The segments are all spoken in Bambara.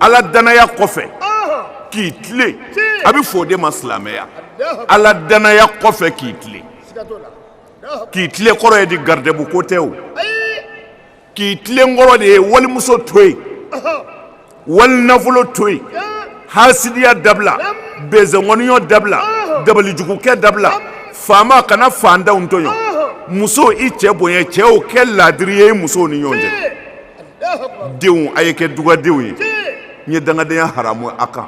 ala danaya kɔfɛ k'i tilen a bɛ fɔ o de ma silamɛya ala danaya kɔfɛ k'i tilen k'i tilen kɔrɔ ye di garidɛbu ko tɛ o k'i tilen kɔrɔ de ye walimuso to yen wali nafolo to yen hasidiya dabila bɛnzɛnkɔniyɔ dabila dabalijugukɛ dabila faama kana fantanw tɔɲɔ muso i cɛ bonya cɛw kɛ laadiri ye musow ni ɲɔgɔn cɛ denw a ye kɛ dugadenw ye n ye dangadenya haramu a kan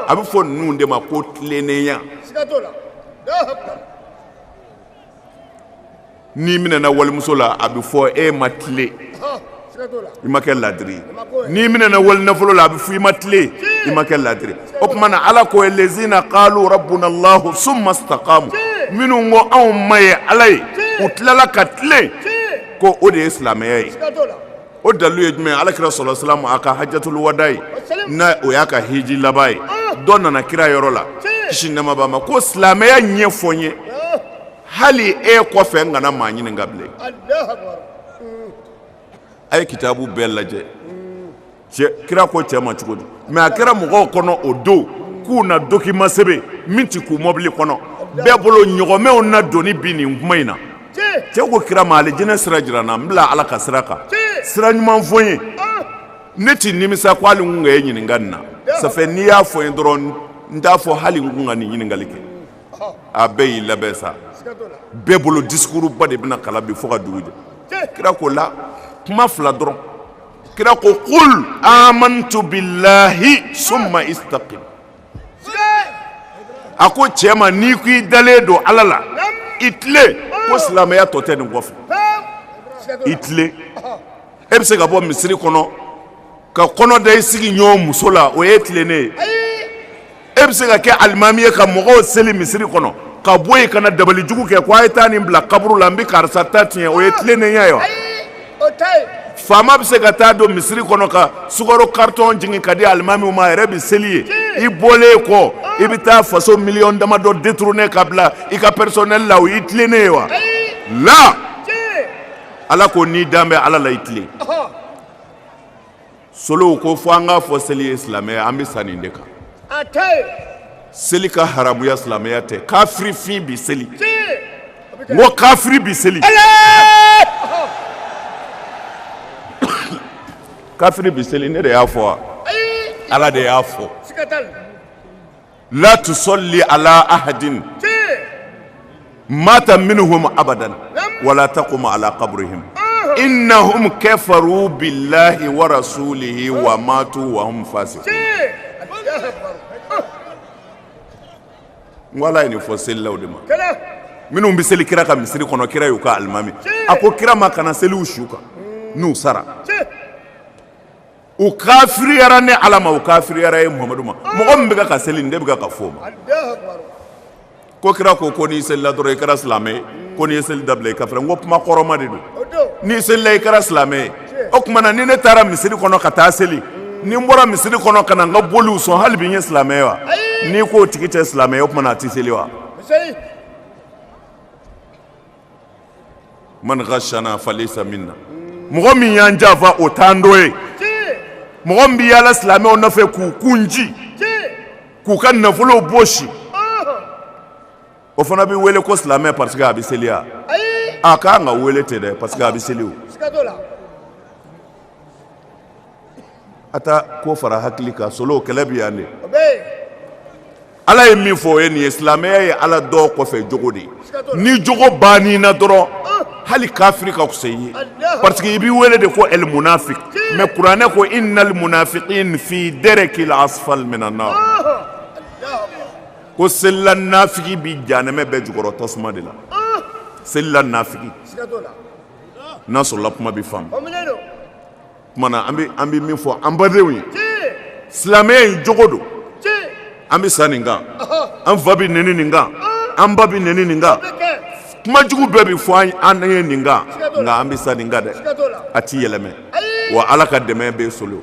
a bɛ fɔ ninnu de ma ko tilennenya n'i minɛna walimuso la a bɛ fɔ e ma tilen i ma kɛ laadiri n'i minɛna wali nafolo la a bɛ fɔ i ma tilen i ma kɛ laadiri o tuma na ala ko lazina qalu rabbuna allahu summa istaqamu minnu ko anw ma ye ala ye u tilala ka tilen ko o de ye silamɛya ye o dalilu ye jumɛn ala kira sallallahu alayhi wa sallam a ka hajjatul wada ye n'a o y'a ka hiji laban ye dɔ nana kira yɔrɔ la kisi nɛɛma b'a ma ko silamɛya ɲɛfɔ n ye hali e kɔfɛ n kana maa ɲininka bilen a ye kitabu bɛɛ lajɛ kira ko cɛ ma cogo di mɛ a kɛra mɔgɔw kɔnɔ o don k'u na document sɛbɛn min tɛ kun mɔbili kɔnɔ bɛɛ bolo ɲɔgɔmɛw na doni bi nin kuma in na cɛ ko kira ma alijinɛ sira jira n na n bila ala ka sira kan sira ɲuman fɔ n ye ne tɛ nimisa ko hali n kun ka e ɲininka nin na sanfɛ n'i y'a fɔ n ye dɔrɔn n t'a fɔ hali n kun ka nin ɲininkali kɛ a bɛɛ y'i labɛn sa bɛɛ bolo discours ba de bɛna kalan bi fo ka dugu jɛ kira ko la kuma fila dɔrɔn kira ko qul amantu billahi summa istaqim a ko cɛ ma n'i ko i dalen don ala la i tilen ko silamɛya tɔ tɛ nin kɔfɛ i tilen e bɛ se ka bɔ misiri kɔnɔ ka kɔnɔ da i sigiɲɔgɔn muso la o ye tilennen ye e bɛ se ka kɛ alimami ye ka mɔgɔw seli misiri kɔnɔ ka bɔ yen ka na dabalijugu kɛ ko a ye taa nin bila kaburu la n bɛ karisa ta tiɲɛ o ye tilennenya ye wa faama bɛ se ka taa don misiri kɔnɔ ka sukaro karitɔn jigin ka di alimamiw ma a yɛrɛ bɛ seli yen i bɔlen kɔ i bɛ taa faso miliyɔn damadɔ détourner ka bila i ka personnel la o y'i tilennen ye wa la Ala ko n'i dan bɛ Ala la i tilen Solow ko fo an k'a fɔ seli ye silamɛya an bɛ sa nin de kan seli ka haramuya silamɛya tɛ kafirifin bi seli n ko kafiri bi seli kafiri bi seli ne de y'a fɔ wa ala de y'a fɔ la tusalli ala ahadin mata minhum abadan wala taqum ala qabrihim innahum kafaru billahi wa rasulihi wa matu wa hum fasiqun ala ye nin fɔ selilaw de ma minnu bɛ seli kira ka misiri kɔnɔ kira y'u ka alimami a ko kira ma kana seli u su kan n'u sara u kafiriyara ne ala ma u kafiriyara e muhamadu ma mɔgɔ min bɛ ka seli nin de bɛ ka fɔ o ma ko kira ko ko n'i selila dɔrɔn i kɛra silamɛ ye ko n'i ye seli dabila i kafira n ko kuma kɔrɔma de don n'i selila i kɛra silamɛ ye o tuma na ni ne taara misiri kɔnɔ ka taa seli ni n bɔra misiri kɔnɔ ka na n ka boliw sɔn hali bi n ye silamɛ ye wa n'i k'o tigi tɛ silamɛ ye o tuma na a tɛ seli wa man ghashana falaysa minna mɔgɔ min y'an janfa o t'an dɔ ye mɔgɔ min bɛ yaala silamɛw nɔfɛ k'u kun ci k'u ka nafolow bɔsi o fana bɛ wele ko silamɛ parce que a bɛ seli wa a ka kan ka wele ten dɛ parce que a bɛ seli A t'a ko fara hakili kan solo kɛlɛ bɛ yan de ala ye min fɔ o ye nin ye silamɛya ye ala dɔn kɔfɛ jogo de ye ni jogo banna i na dɔrɔn hali kafiri ka fisa i ye parce que i bɛ wele de ko el munafik mais kuranɛ ko innal munafiqin fi darkil asfali minan nar ko selila nafigi bɛ janamɛ bɛɛ jukɔrɔ tasuma de la selila nafigi n'a sɔrɔla kuma bɛ faamu tuma na an bɛ min fɔ an badenw ye silamɛya in jogo don an bɛ sa nin kan an fa bɛ nɛni nin kan an ba bɛ nɛni nin kan kumajugu bɛɛ bɛ fɔ an ye nin kan nka an bɛ sa nin kan dɛ a tɛ yɛlɛmɛ wa ala ka dɛmɛ bɛ solo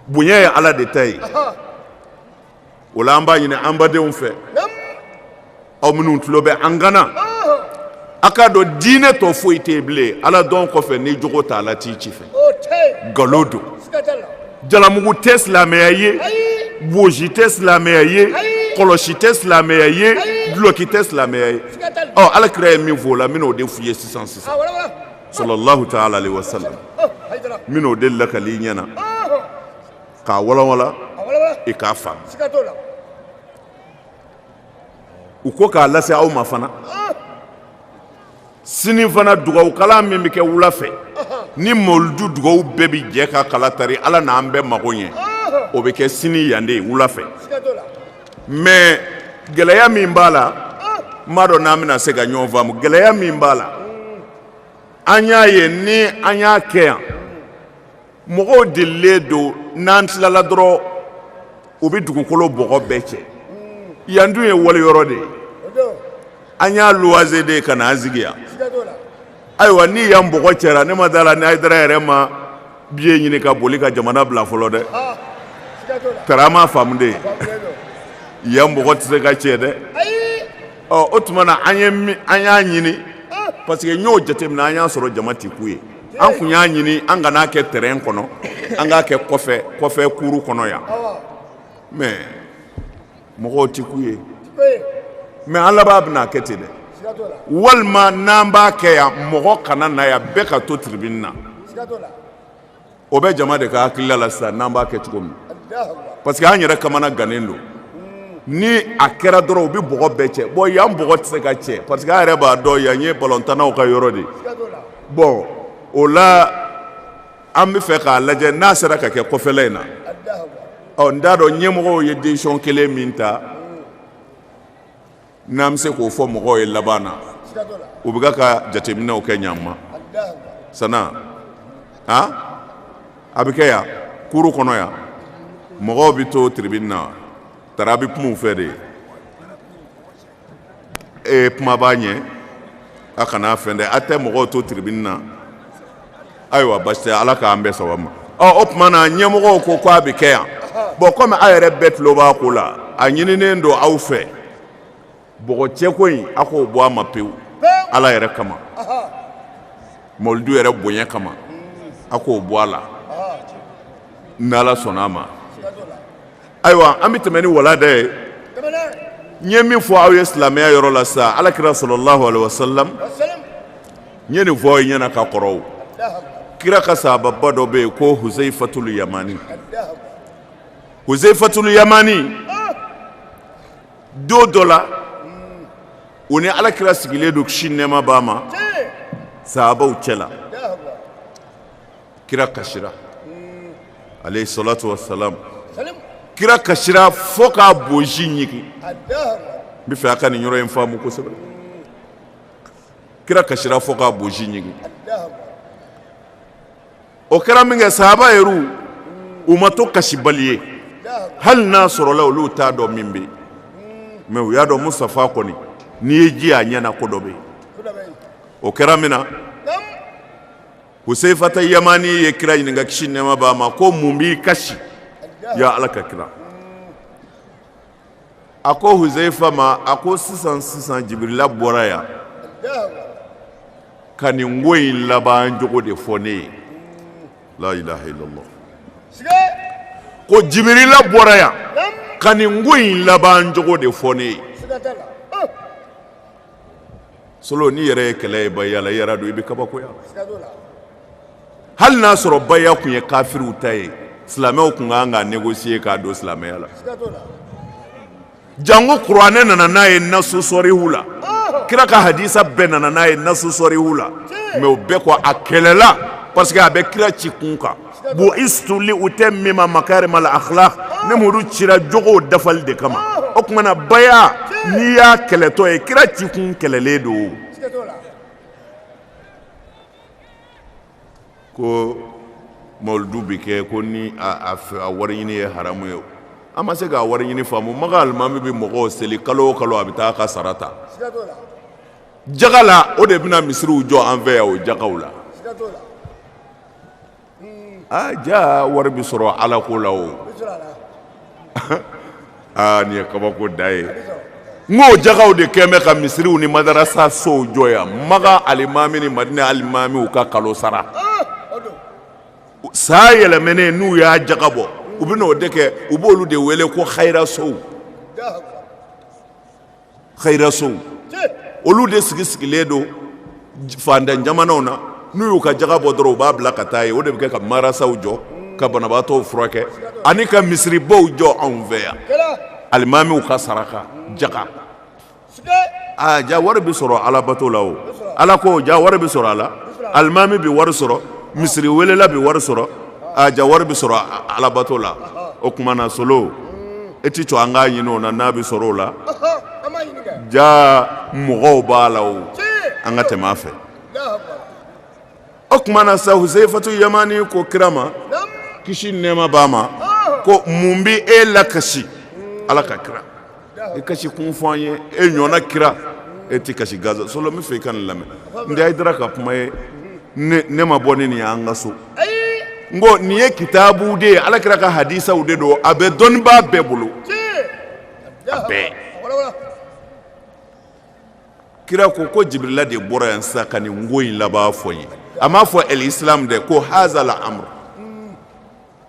bonya ye ala de ta ye o la an b'a ɲini an badenw fɛ aw minnu tulo bɛ an kan na a k'a dɔn diinɛ tɔ foyi tɛ bilen ala dɔn kɔfɛ ni jogo t'a la t'i ci fɛ nkalon don jalamugu tɛ silamɛya ye bonsi tɛ silamɛya ye kɔlɔsi tɛ silamɛya ye duloki tɛ silamɛya ye ɔ ala kira ye min fɔ o la n bɛn'o de f'u ye sisan sisan sallallahu taala alayhi wa sallam n bɛn'o de lakali i ɲɛna k'a walanwalan i k'a faamu u ko k'a lase aw ma fana sini fana dugawukalan min bɛ kɛ wula fɛ ni mawuludu dugawu bɛɛ bɛ jɛ ka k'ala tari ala n'an bɛɛ mago ɲɛ o bɛ kɛ sini yan de wula fɛ mais gɛlɛya min b'a la n m'a dɔn n'an bɛna se ka ɲɔgɔn faamu gɛlɛya min b'a la an y'a ye ni an y'a kɛ yan mɔgɔw delilen don n'an tilala dɔrɔn u bɛ dugukolo bɔgɔ bɛɛ cɛ yan dun ye wali yɔrɔ de ye an y'a luwase de ye ka n'an sigi yan ayiwa ni yan bɔgɔ cɛra ne ma d'a la ni hayidara yɛrɛ ma biye ɲini ka boli ka jamana bila fɔlɔ dɛ tara m'a faamu de ye yan bɔgɔ tɛ se ka cɛ dɛ ɔ o tuma na an y'a ɲini parce que n y'o jateminɛ an y'a sɔrɔ jama tɛ kun yen an kun y'a ɲini an kan'a kɛ tɛrɛn kɔnɔ an k'a kɛ kɔfɛ kɔfɛ kuru kɔnɔ yan mɛ mɔgɔw tɛ kun yen mɛ an laban bɛna a kɛ ten dɛ walima n'an b'a kɛ yan mɔgɔ kana na yan bɛɛ ka to tiribini na o bɛ jama de ka hakilila la sisan n'an b'a kɛ cogo min parce que an yɛrɛ kamanagannen don ni a kɛra dɔrɔn u bɛ bɔgɔ bɛɛ cɛ bɔn yan bɔgɔ tɛ se ka cɛ parce que an yɛrɛ b'a dɔn yan ye balontannaw ka yɔrɔ de ye bɔn o la an bɛ fɛ k'a lajɛ n'a sera ka kɛ kɔfɛla in na ɔ n t'a dɔn ɲɛmɔgɔw ye décision kelen min ta n'an bɛ se k'o fɔ mɔgɔw ye laban na u bɛ ka jateminɛw kɛ ɲa ma sa n'a a bɛ kɛ yan kuru kɔnɔ yan mɔgɔw bɛ to tiribini na tara bɛ kuma u fɛ de ye e kuma b'a ɲɛ a kana fɛn dɛ a tɛ mɔgɔw to tiribini na ayiwa basi tɛ ala k'an bɛn sababu ma o tuma na ɲɛmɔgɔw ko k'a bɛ kɛ yan bɔn kɔmi aw yɛrɛ bɛɛ tulo b'a ko la a ɲininen don aw fɛ bɔgɔ cɛko in a k'o bɔ a ma pewu ala yɛrɛ kama mawuludu yɛrɛ bonya kama a k'o bɔ a la ni ala sɔnna a ma ayiwa an bɛ tɛmɛ ni walanda ye n ye min fɔ aw ye silamɛya yɔrɔ la sa ala kira sallallahu alayhi wasallam n ye nin fɔ ɲɛna ka kɔrɔ kira ka sahaba dɔ bɛ yen ko huzayifatulu yamani huzayifatulu yamani don dɔ la u ni ala kira sigilen don kisi nɛɛma b'a ma sahabaw cɛ la kira kasira alayhi salatu wasalam kira kasira fo k'a bonsi ɲigin n bɛ fɛ a ka nin yɔrɔ in faamu kosɛbɛ kira kasira fo k'a bonsi ɲigin o kɛra min kɛ sahaba yɛrɛ u ma to kasibali ye hali n'a sɔrɔla olu t'a dɔn min bɛ yen mɛ u y'a dɔn musitafa kɔni n'i ye ji y'a ɲɛ na ko dɔ bɛ yen o kɛra min na huseyifata yamani ye kira ɲininka kisi nɛma b'a ma ko mun b'i kasi ya ala ka kira a ko huseyifa ma a ko sisan sisan jibirila bɔra yan ka nin ko in laban cogo de fɔ ne ye la ilaha illallah ko jibirila bɔra yan ka nin ko in laban cogo de fɔ ne ye solo n'i yɛrɛ ye kɛlɛ ye baya la i yɛrɛ don i bɛ kabakoya hali n'a sɔrɔ baya tun ye kafiriw ta ye silamɛw tun kan ka négocier k'a don silamɛya la jango kuranɛ nana n'a ye nasu sɔrihu la kira ka hadisa bɛɛ nana n'a ye nasu sɔrihu la mɛ o bɛɛ kɔ a kɛlɛla parce que a bɛ kira ci kun kan bu'istu li utammima makarimal akhlaq ne mudu cira jogo dafali de kama o tuma na baya n'i y'a kɛlɛtɔ ye kira ci kun kɛlɛlen don ko mawuludu bɛ kɛ ko ni a wari ɲini ye haramu ye an ma se k'a wari ɲini faamu Maka alimami bɛ mɔgɔw seli kalo o kalo a bɛ taa a ka sara ta jaga la o de bɛna misiriw jɔ an fɛ yan o jagaw la aa jaa wari bɛ sɔrɔ ala ko la o aa nin ye kabako da ye n k'o jagaw de kɛn bɛ ka misiriw ni madarasa sow jɔ yan Maka alimami ni Madina alimamiw ka kalo sara san yɛlɛmɛnen n'u y'a jaga bɔ u bɛ n'o de kɛ u b'olu de wele ko hayirasow. hayirasow olu de sigi sigilen don fantan jamanaw na n'u y'u ka jaga bɔ dɔrɔn u b'a bila ka taa yen o de bɛ kɛ ka marasaw jɔ ka banabaatɔw furakɛ ani ka misiribaw jɔ anw fɛ yan alimamiw ka saraka jaga aa ja wari bɛ sɔrɔ alabato la o ala ko ja wari bɛ sɔrɔ a la alimami bɛ wari sɔrɔ misiri welela bɛ wari sɔrɔ aa ja wari bɛ sɔrɔ alabato la o tuma na solo e tɛ to an k'a ɲinin o na n'a bɛ sɔrɔ o la ja mɔgɔw b'a la o an ka tɛmɛ a fɛ o tuma na sa huseyifatu yamani ko kira ma kisi nɛma b'a ma ko mun bɛ e lakasi ala ka kira i kasi kun fɔ an ye e ɲɔgɔnna kira e tɛ kasi gansan solo n bɛ fɛ i ka nin lamɛn nin tɛ hayidara ka kuma ye ne ma bɔ ni nin y'an ka so n ko nin ye kitabu de ye ala kira ka hadisaw de don a bɛ dɔnnibaa bɛɛ bolo a bɛɛ kira ko ko jibirila de bɔra yan sisan ka nin ko in laban fɔ n ye a m'a fɔ ɛlisilamu dɛ ko hazal amuru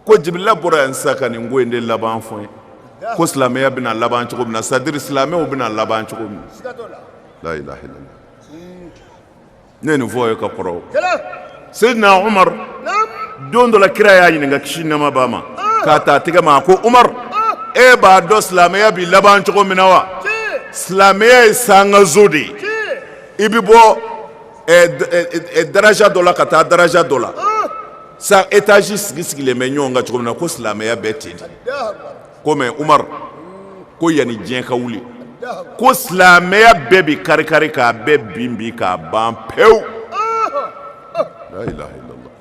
ko jibirila bɔra yan sa ka nin ko in de laban fɔ n ye ko silamɛya bɛna laban cogo min na c'est à dire silamɛw bɛna laban cogo min na ne ye nin fɔ ye ka kɔrɔ seyidina umaru don dɔ la kira y'a ɲininka kisi nɛɛma b'a ma k'a ta a tɛgɛ ma ko umaru e b'a dɔn silamɛya bɛ laban cogo min na wa silamɛya ye sankanso de ye i bɛ bɔ daraja dɔ la ka taa daraja dɔ la Sa etazi sigi sigilen bɛ ɲɔgɔn kan cogo min na ko silamɛya bɛ ten de ko mais umaru ko yanni diɲɛ ka wuli ko silamɛya bɛɛ bɛ kari kari k'a bɛɛ bin bin k'a ban pewu la ilaha illallah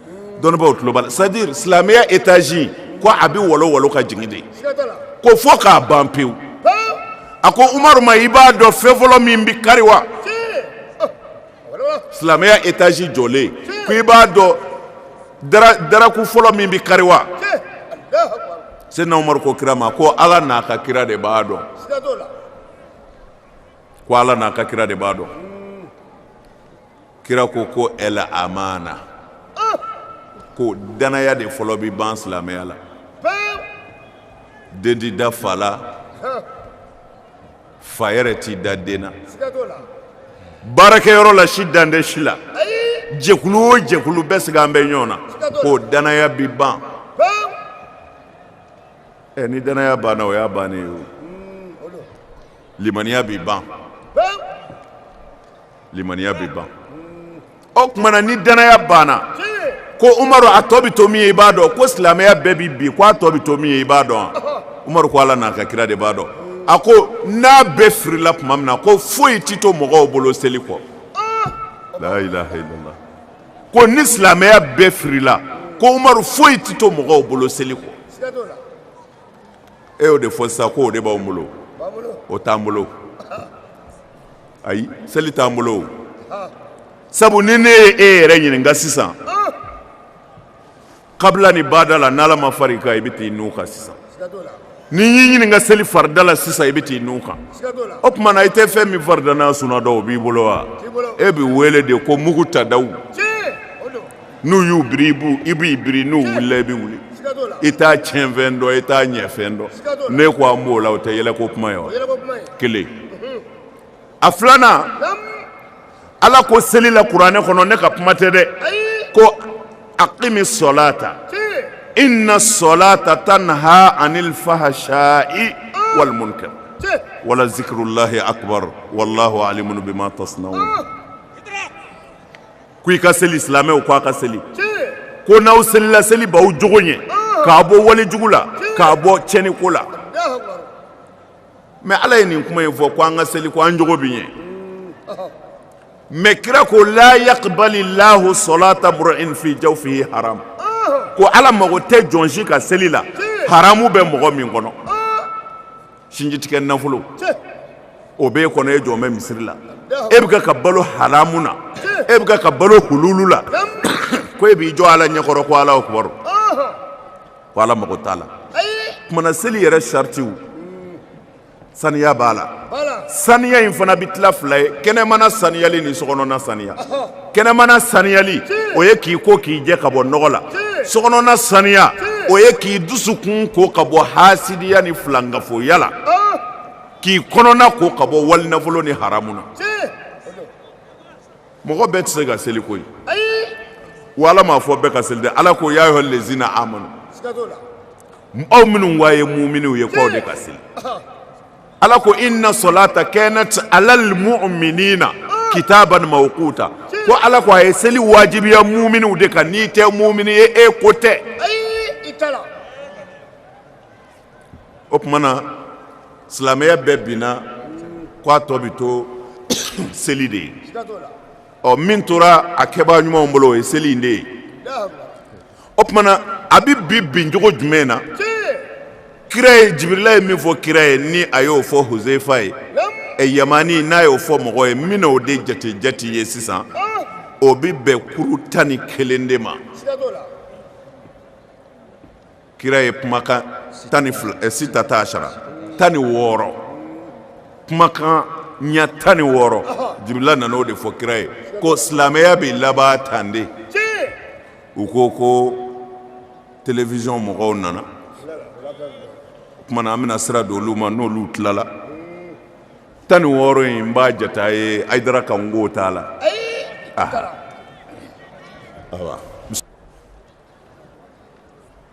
dɔnnibaaw tulo b'a la c'est à dire silamɛya etazi ko a bɛ wolo wolo ka jigin de ko fo k'a ban pewu a ko umaru ma i b'a dɔn fɛn fɔlɔ min bɛ kari wa silamɛya etazi jɔlen ko i b'a dɔn daraku fɔlɔ min bɛ kari wa seyidina umaru ko kira ma ko ala n'a ka kira de b'a dɔn ko ala n'a ka kira de b'a dɔn kira ko ko al amana ko danaya de fɔlɔ bɛ ban silamɛya la den tɛ da fa la fa yɛrɛ t'i da den na baarakɛyɔrɔ la si dalen tɛ si la jɛkulu o jɛkulu bɛɛ sigalen bɛ ɲɔgɔn na ko danaya bi ban ɛ ni danaya banna o y'a bannen ye o limaniya bi ban limaniya bɛ ban o tuma na ni danaya banna ko umaru a tɔ bɛ to min ye i b'a dɔn ko silamɛya bɛɛ bɛ bin ko a tɔ bɛ to min ye i b'a dɔn umaru ko ala n'a ka kira de b'a dɔn a ko n'a bɛɛ firila tuma min na ko foyi tɛ to mɔgɔw bolo seli kɔ la ilaha illallah ko ni silamɛya bɛɛ firila ko umaru foyi tɛ to mɔgɔw bolo seli kɔ e y'o de fɔ sa ko o de b'an bolo o t'an bolo ayi seli t'an bolo sabu ni ne ye e yɛrɛ ɲininka sisan kabila ni bada la n'ala ma far'i kan i bɛ t'i nun kan sisan ni n y'i ɲininka seli farida la sisan i bɛ t'i nun kan o tuma na i tɛ fɛn min farida n'a suna dɔn o b'i bolo wa e bɛ wele de ko mugutadaw n'u y'u biri i b'i biri n'u wulila i bɛ wuli i t'a tiɲɛfɛn dɔn i t'a ɲɛfɛn dɔn ne ko an b'o la o tɛ yɛlɛko kuma ye wa kelen a filanan ala ko seli la kuranɛ kɔnɔ ne ka kuma tɛ dɛ ko akimi sɔlata ina sɔlata tanha anil fahasa'i walimunkar wala zikirulahi akubaru walahu alimu bima tasnaun ko i ka seli silamɛw ko a ka seli ko n'aw selila seli b'aw jogo ɲɛ k'a bɔ walejugu la k'a bɔ tiɲɛni ko la mɛ ala ye nin kuma in fɔ ko an ka seli ko an jogo bi ɲɛ mɛ kira ko la yakbali lahu sɔlata muri'in fi jawfihi haram ko ala mago tɛ jɔn si ka seli la haramu bɛ mɔgɔ min kɔnɔ sinjitigɛ nafolo o bɛ e kɔnɔ e jɔlen bɛ misiri la e bɛ ka balo haramu na e bɛ ka balo hululu la ko e b'i jɔ ala ɲɛkɔrɔ ko alahu akibaru ko ala mago t'a la kuma na seli yɛrɛ saritiw saniya b'a la saniya in fana bɛ tila fila ye kɛnɛmana saniyali ni sokɔnɔna saniya kɛnɛmana saniyali o ye k'i ko k'i jɛ ka bɔ nɔgɔ la sokɔnɔna saniya o ye k'i dusukun ko ka bɔ hasidiya ni filankafoya la k'i kɔnɔna ko ka bɔ walinafolo ni haramu na mɔgɔ bɛɛ tɛ se ka seli koyi wa ala m'a fɔ bɛɛ ka seli dɛ ala ko ya ayuha lezina amanu aw minnu wa ye muminiw ye k'aw de ka seli ala ko inna sɔlata kanɛti alal muminina kitaban mawkuta ko ala ko a ye seli wajibiya muminiw de kan n'i tɛ mumini ye e ko tɛ o tuma na silamɛya bɛɛ binna k'a tɔ bɛ to seli de ye ɔ min tora a kɛbaa ɲumanw bolo o ye seli in de ye o tuma na a bɛ bi bin cogo jumɛn na kira ye jibirila ye min fɔ kira ye ni a y'o fɔ huzeyifa ye ɛ yamani n'a y'o fɔ mɔgɔ ye min o de jate jate ye sisan o bɛ bɛn kuru tan ni kelen de ma kira ye kumakan tan ni eh, sitata asara tan ni wɔɔrɔ kumakan ɲɛ tan ni wɔɔrɔ jibirila nana o de fɔ kira ye ko silamɛya bɛ laban tan de u ko ko television mɔgɔw nana kumana an bɛna sira d'olu ma n'olu tilala tan ni wɔɔrɔ in n b'a jata ye ayidara kan ko t'a la awa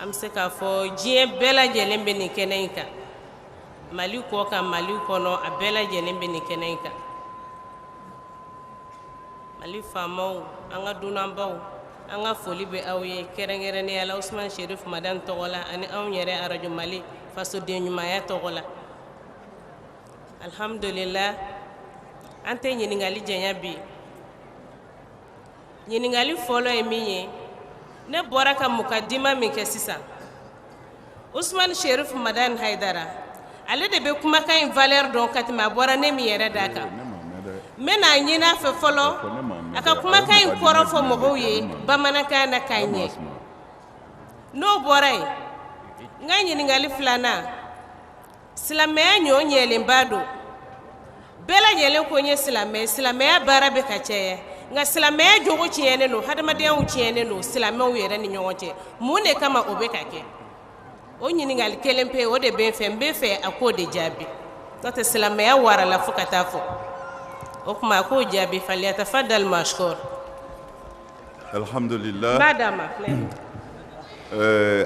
an bɛ se k'a fɔ diɲɛ bɛɛ lajɛlen bɛ nin kɛnɛ in kan mali kɔkan mali kɔnɔ a bɛɛ lajɛlen bɛ nin kɛnɛ in kan mali faamaw an ka dunanbaw an ka foli bɛ aw ye kɛrɛnkɛrɛnnenya la usman sherif madani tɔgɔ la ani anw yɛrɛ arajo mali fasodenɲumanya tɔgɔ la alhamdulillah an tɛ ɲininkali janya bi ɲininkali fɔlɔ ye min ye ne bɔra ka mukadima min kɛ sisan usman sherif madani haidara ale de bɛ kumakan in valeur dɔn ka tɛmɛ a bɔra ne min yɛrɛ da kan n bɛna a ɲini a fɛ fɔlɔ a ka kumakan in kɔrɔ fɔ mɔgɔw ye bamanankan na k'a ɲɛ n'o bɔra yen n ka ɲininkali filanan silamɛya ɲɔ ɲɛlenba don bɛɛ lajɛlen ko n ye silamɛ silamɛya baara bɛ ka caya nka silamɛya jogo tiɲɛnen don hadamadenyaw tiɲɛnen don silamɛw yɛrɛ ni ɲɔgɔn cɛ mun de kama o bɛ ka kɛ o ɲininkali kelen pe o de bɛ n fɛ n bɛ fɛ a k'o de jaabi n'o tɛ silamɛya warala fo ka taa fɔ o tuma a k'o jaabi falyatafaddal mashkur Alihamdulila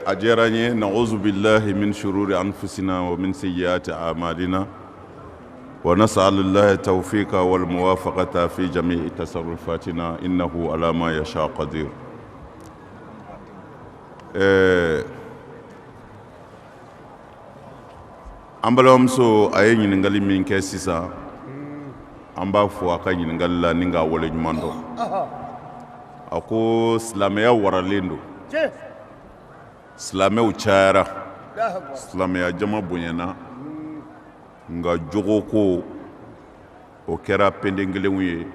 a diyara n ye na zbi min suru an fina o mini seya cɛ a madina wa na sa la taa fɔ yen ka walima fa ka taa fɔ ja i ta sa fatina i na ko alama ya kadi ɛɛ An balimamuso a ye ɲininkali min kɛ sisan an b'a fɔ a ka ɲininkali la ni k'a wale ɲuman dɔn a ko silamɛya waralen don silamɛw cayara silamɛya jama bonyana nka jogo ko o kɛra penden kelenw ye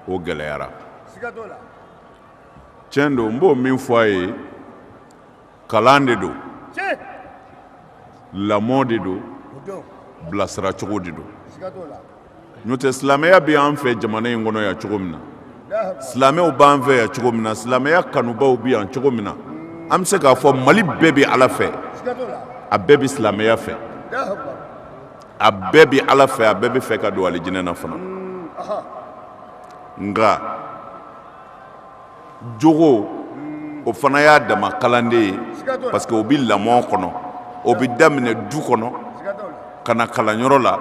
o gɛlɛyara tiɲɛ don n b'o min fɔ a ye kalan de don lamɔ de don bilasiracogo de don n'o tɛ silamɛya bɛ an fɛ jamana in kɔnɔ yan cogo min na silamɛw b'an fɛ yan cogo min na silamɛya kanubaw bɛ yan cogo min na an bɛ se k'a fɔ mali bɛɛ bɛ ala fɛ a bɛɛ bɛ silamɛya fɛ a bɛɛ bɛ ala fɛ a bɛɛ bɛ fɛ ka don alijinɛ na fana nka jogo o fana y'a dama kalan de ye parce que o bɛ lamɔ kɔnɔ o bɛ daminɛ du kɔnɔ ka na kalanyɔrɔ la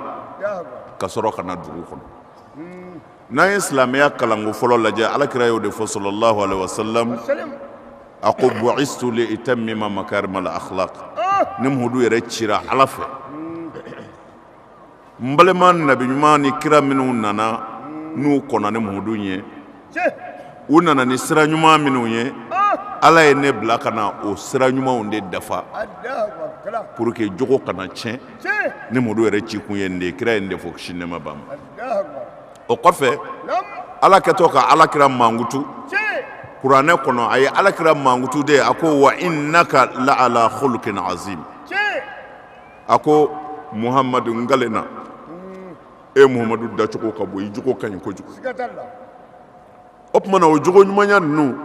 ka sɔrɔ ka na dugu kɔnɔ n'an ye silamɛya kalanko fɔlɔ lajɛ alakira y'o de fɔ sallallahu alayhi wa sallam a ko bu'istu li utammima makarimal akhlaq ne muhamadu yɛrɛ cira ala fɛ n balima nabi ɲuman ni kira minnu nana n'u kɔnna ne muhamadu ɲɛ u nana ni sira ɲuman minnu ye ala ye ne bila ka na o sira ɲumanw de dafa pour que jogo kana tiɲɛ ne muhamadu yɛrɛ cikun ye nin de ye kira ye nin de fɔ kisi nɛɛma b'a ma o kɔfɛ ala kɛtɔ ka ala kira mankutu kuranɛ kɔnɔ a ye ala kira mankutu de a ko wa innaka la ala khuluqin azim a ko muhamadu n kalen na e muhamadu dacogo ka bon i jogo ka ɲi kojugu o tuma na o jogo ɲumanya ninnu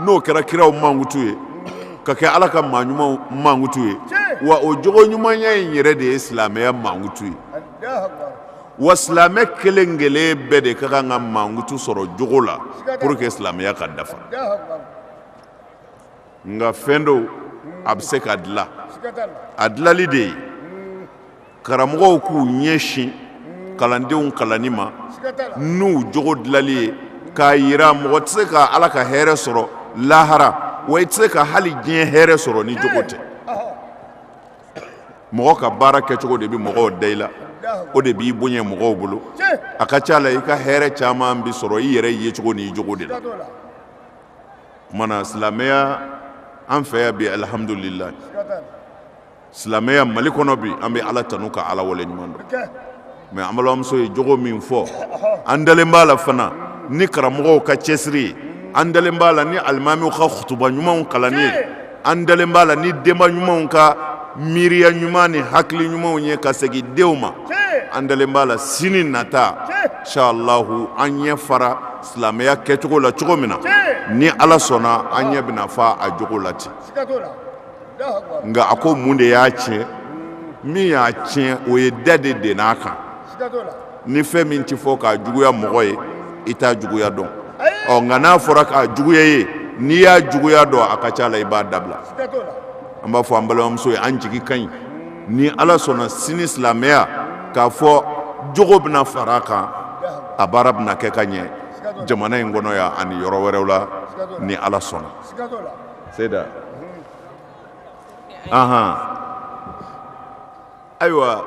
n'o kɛra kiraw mankutu ye ka kɛ ala ka maa ɲumanw mankutu ye wa o jogo ɲumanya in yɛrɛ de ye silamɛya mankutu ye wa silamɛ kelen kelen bɛɛ de ka kan ka mankutu sɔrɔ jogo la pour que silamɛya ka dafa nka fɛn don a bɛ se ka dilan a dilali de ye karamɔgɔw k'u ɲɛsin kalandenw kalanni ma n'u jogo dilali ye k'a yira mɔgɔ tɛ se ka ala ka hɛrɛ sɔrɔ lahara wa i tɛ se ka hali diɲɛ hɛrɛ sɔrɔ ni jogo tɛ mɔgɔ ka baara kɛcogo de bɛ mɔgɔw da i la o de b'i bonya mɔgɔw bolo a ka ca la i ka hɛrɛ caman bɛ sɔrɔ i yɛrɛ yecogo ni i jogo de la O tuma na silamɛya an fɛ yan bi alihamdulila silamɛya mali kɔnɔ bi an bɛ ala tanu ka ala wale ɲuman dɔn mais an balimamuso ye jogo min fɔ an dalen b'a la fana ni karamɔgɔw ka cɛsiri ye an dalen b'a la ni alimamiw ka kutuba ɲumanw kalanni ye an dalen b'a la ni denba ɲumanw ka miiriya ɲuman ni hakili ɲumanw ye ka segin denw ma an dalen b'a la sini nata inshallahu an ɲɛ fara Silamɛya kɛcogo la cogo min na ni ala sɔnna an ɲɛ bɛna fa a jogo la ten nka a ko mun de y'a tiɲɛ min y'a tiɲɛ o ye da de denn'a kan ni fɛn min tɛ fɔ k'a juguya mɔgɔ ye i t'a juguya dɔn ɔ nka n'a fɔra k'a juguya ye n'i y'a juguya dɔn a ka ca la i b'a dabila an b'a fɔ an balimamuso ye an jigi ka ɲi ni ala sɔnna sini silamɛya k'a fɔ jogo bɛna fara a kan a baara bɛna kɛ ka ɲɛ jamana in kɔnɔ yan ani yɔrɔ wɛrɛw la ni ala sɔnna seda ahan ayiwa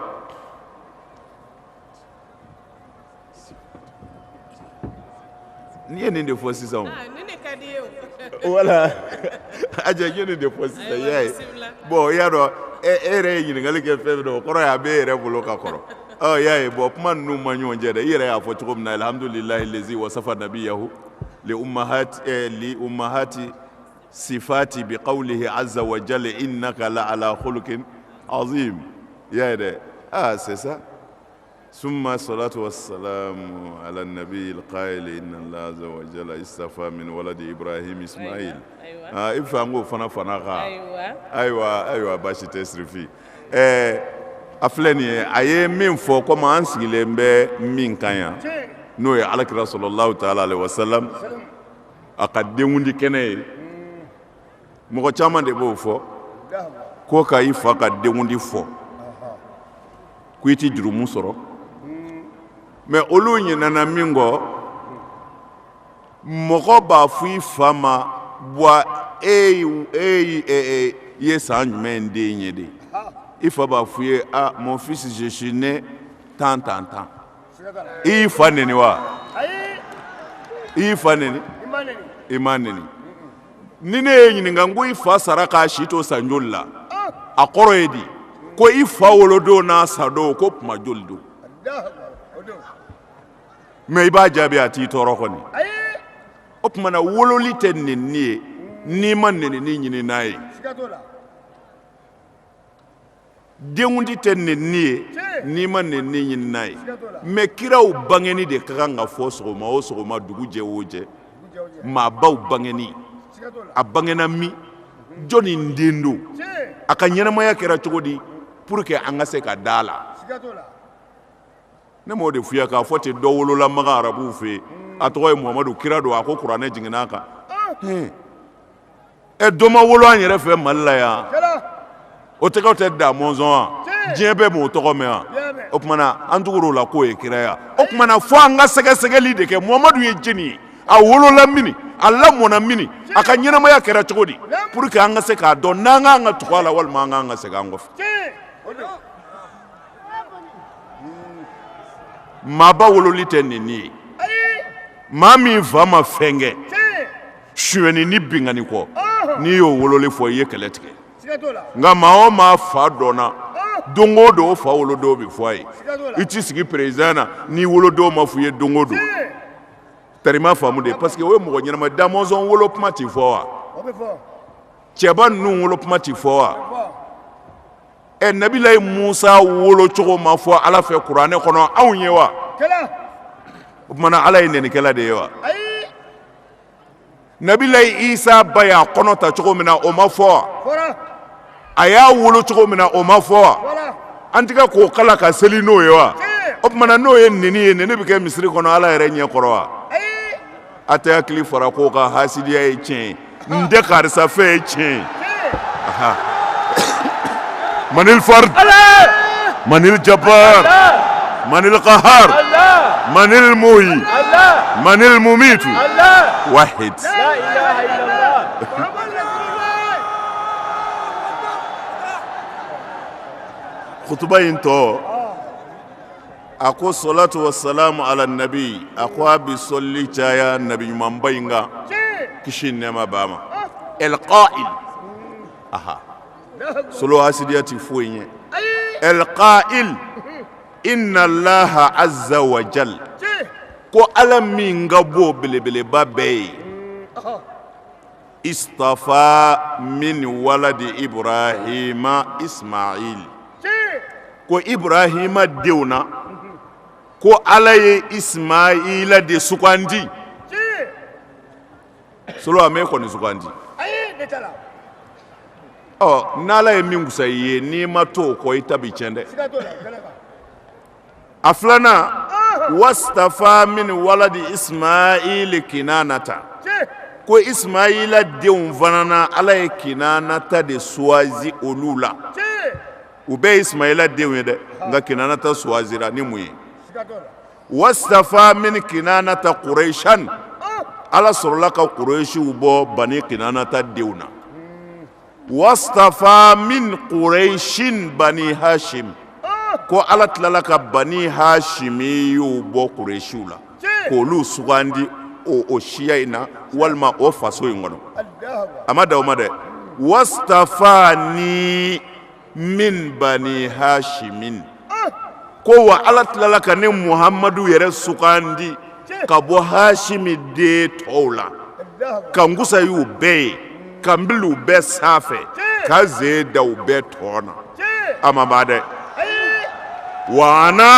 n'i ye nin de fɔ sisan o wala aja ye nin de fɔ sisan i y'a ye bɔn i y'a dɔn e yɛrɛ ye ɲininkali kɛ fɛn min na o kɔrɔ ye a bɛ e yɛrɛ bolo ka kɔrɔ ɔ i y'a ye bɔn kuma ninnu ma ɲɔgɔn cɛ dɛ i yɛrɛ y'a fɔ cogo min na alihamudulilayi lezi wasafa nabiyahu li umahati eh, li umahati sifati bi qawlihi azza wa jalla innaka la ala khuluqin azim i y'a ye dɛ ah c'est ça summa salatu wa salamu ala nabi alqaili inna allah azza wa jalla istafa min waladi ibrahim ismail ayiwa. ah i fa ngo fana fana ka Ayiwa. ayiwa ayiwa basi tɛ sirifi ɛɛ a filɛ nin ye a ye min fɔ komi an sigilen bɛ min kan yan n'o ye alakira salalahu taala alaihi wasalam a ka denkundi kɛnɛ ye mɔgɔ caman de b'o fɔ ko ka i fa ka denkundi fɔ ko i tɛ jurumu sɔrɔ mais olu ɲinɛna min kɔ mɔgɔ b'a fɔ i fa ma buwa e, e, e ye san jumɛn den ye de i fa b'a fɔ i ye a mon fils je suis né tant tant tant i y'i fa neni wa i y'i fa neni i m'a neni ni ne y'i ɲininka n ko i fa sara k'a si to san joli la a kɔrɔ ye di ko i fa wolodon n'a sadon ko kuma joli don mais i b'a jaabi a t'i tɔɔrɔ kɔni o tuma na wololi tɛ neni ye n'i ma nenini ɲini n'a ye denkundi tɛ nenni ye n'i ma nenni ɲini n'a ye mais kiraw bangenni de ka kan ka fɔ sɔgɔma o sɔgɔma dugu jɛ o jɛ maabaw bangenni a bangena min jɔnni den don a ka ɲɛnamaya kɛra cogo di pour que an ka se ka da a la ne m'o de fɔ i ye k'a fɔ ten dɔ wolola makan arabuw fɛ yen a tɔgɔ ye muhamadu kira don a ko kuranɛ jiginna a kan ɛ dɔ ma wolo an yɛrɛ fɛ mali la yan o tɔgɔ tɛ da mɔnzɔn wa diɲɛ bɛɛ m'o tɔgɔ mɛn wa o tumana an tugur'o la k'o ye kira ye wa o tumana fo an ka sɛgɛsɛgɛli de kɛ muhamadu ye jeni ye a wolola mini a lamɔna mini a ka ɲɛnamaya kɛra cogo di pour que an ka se k'a dɔn n'an k'an ka tugu a la walima an k'an ka segin an kɔfɛ maaba wololi tɛ nenni ye maa min fa ma fɛn kɛ suyɛnni ni binkanni kɔ n'i y'o wololi fɔ i ye kɛlɛ tigɛ nka maa o maa fa dɔnna don o don o fa wolodon bɛ fɔ a ye i t'i sigi président na n'i wolodon ma fɔ i ye don o don tari i m'a faamu de parce que o ye mɔgɔ ɲɛnama ye da mɔnzɔn wolo kuma tɛ fɔ wa cɛba ninnu wolo kuma tɛ fɔ wa ɛ nabilayi musa wolo cogo ma fɔ ala fɛ kuranɛ kɔnɔ anw ye wa o tumana ala ye nɛnikɛla de ye wa nabilayi isa ba y'a kɔnɔ ta cogo min na o ma fɔ a y'a wolo cogo min na o ma fɔ an tɛ k'o kalan ka seli n'o ye wa o tumana n'o ye nɛni ye nɛni bɛ kɛ misiri kɔnɔ ala yɛrɛ ɲɛ kɔrɔ wa A tɛ hakili fara ko ka hasidiya ye tiɲɛ n tɛ karisa fɛ ye tiɲɛ manil fard manil jabbar manil qahar manil muhi manil mumit wa kutuba in tɔ A ko salatu wasalamu ala nabi a ko a bɛ sɔli caya nabi ɲumanba in kan kisi nɛɛma b'a ma el qa'il solo hasidiya tɛ foyi ye el qa'il inna laha azza wajali ko ala min ka bon belebeleba bɛɛ ye Istafa min waladi ibrahima ismail ko ibrahima denw na ko ala ye ismaila de sugandi solo a m'e kɔni sugandi ɔ n'ala ye min kusa i ye n'i ma to o kɔ i ta bi cɛn dɛ a filanan wastafa min waladi ismail kinanata ko ismaila denw fana na ala ye kinanata de suwazi olu la u bɛɛ ye ismaila denw ye dɛ nka kinanata suwazira ni mun ye wastafa min kinanata kuraisan ala sɔrɔla ka kuresiw bɔ bani kinanata denw na wastafa min kuraisin bani hasim ko ala tilala ka bani hasimiyu bɔ kuresiw la k'olu sugandi o o siya in na walima o faso in kɔnɔ a ma dan o ma dɛ wastafani min bani hasimin ko wa ala tilala ka ne muhamadu yɛrɛ sugandi ka bɔ hasimi den tɔw la ka n kusaya u bɛɛ ye ka n bila u bɛɛ sanfɛ ka n sen da u bɛɛ tɔn na a ma ban dɛ wa ana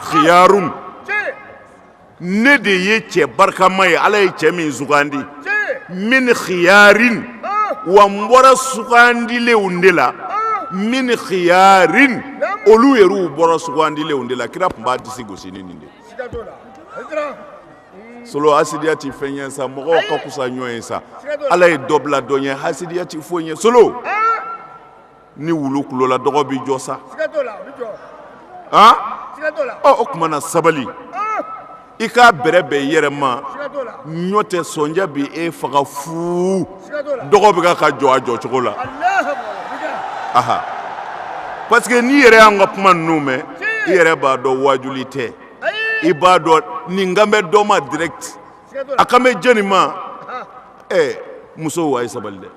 xiyarun ne de ye cɛ barikama ye ala ye cɛ min sugandi min xiyarin wa n bɔra sugandilenw de la min xiyarin olu yɛrɛw bɔra sugandilenw de la kira tun b'a disi gosi ni nin de solo hasidiya tɛ fɛn ye sa mɔgɔw ka kusa ɲɔgɔn ye sa ala ye dɔ bila dɔ ɲɛ hasidiya tɛ foyi ye solo ni wulu kulola dɔgɔ bɛ jɔ sa o tuma na sabali i k'a bɛrɛbɛn i yɛrɛ ma ɲɔ tɛ sɔnja bɛ e faga fu dɔgɔ bɛ ka jɔ a jɔ cogo la a parce que n'i yɛrɛ y'an ka kuma ninnu mɛn i yɛrɛ b'a dɔn wajuli tɛ i b'a dɔn nin kan bɛ dɔ ma direct a kan bɛ jɔnni ma ɛ musow a ye sabali dɛ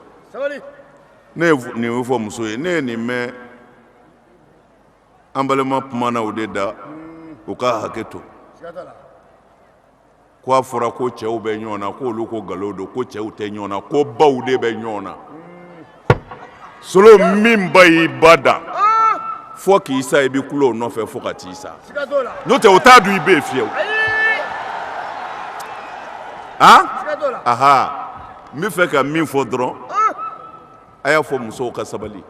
ne ye nin o fɔ muso ye ne ye nin mɛn an balima kuma na o de da u ka hakɛ to ko a fɔra ko cɛw bɛ ɲɔgɔn na ko olu ko nkalon don ko cɛw tɛ ɲɔgɔn na ko baw de bɛ ɲɔgɔn na solo min ba y'i ba da fo k'i sa i bɛ kule o nɔfɛ fo ka t'i sa n'o tɛ o t'a dun i bɛ yen fiyewu. Ayi. Haa. Siga t'o la. Ahaa. n bɛ fɛ ka min fɔ dɔrɔn a y'a fɔ musow ka sabali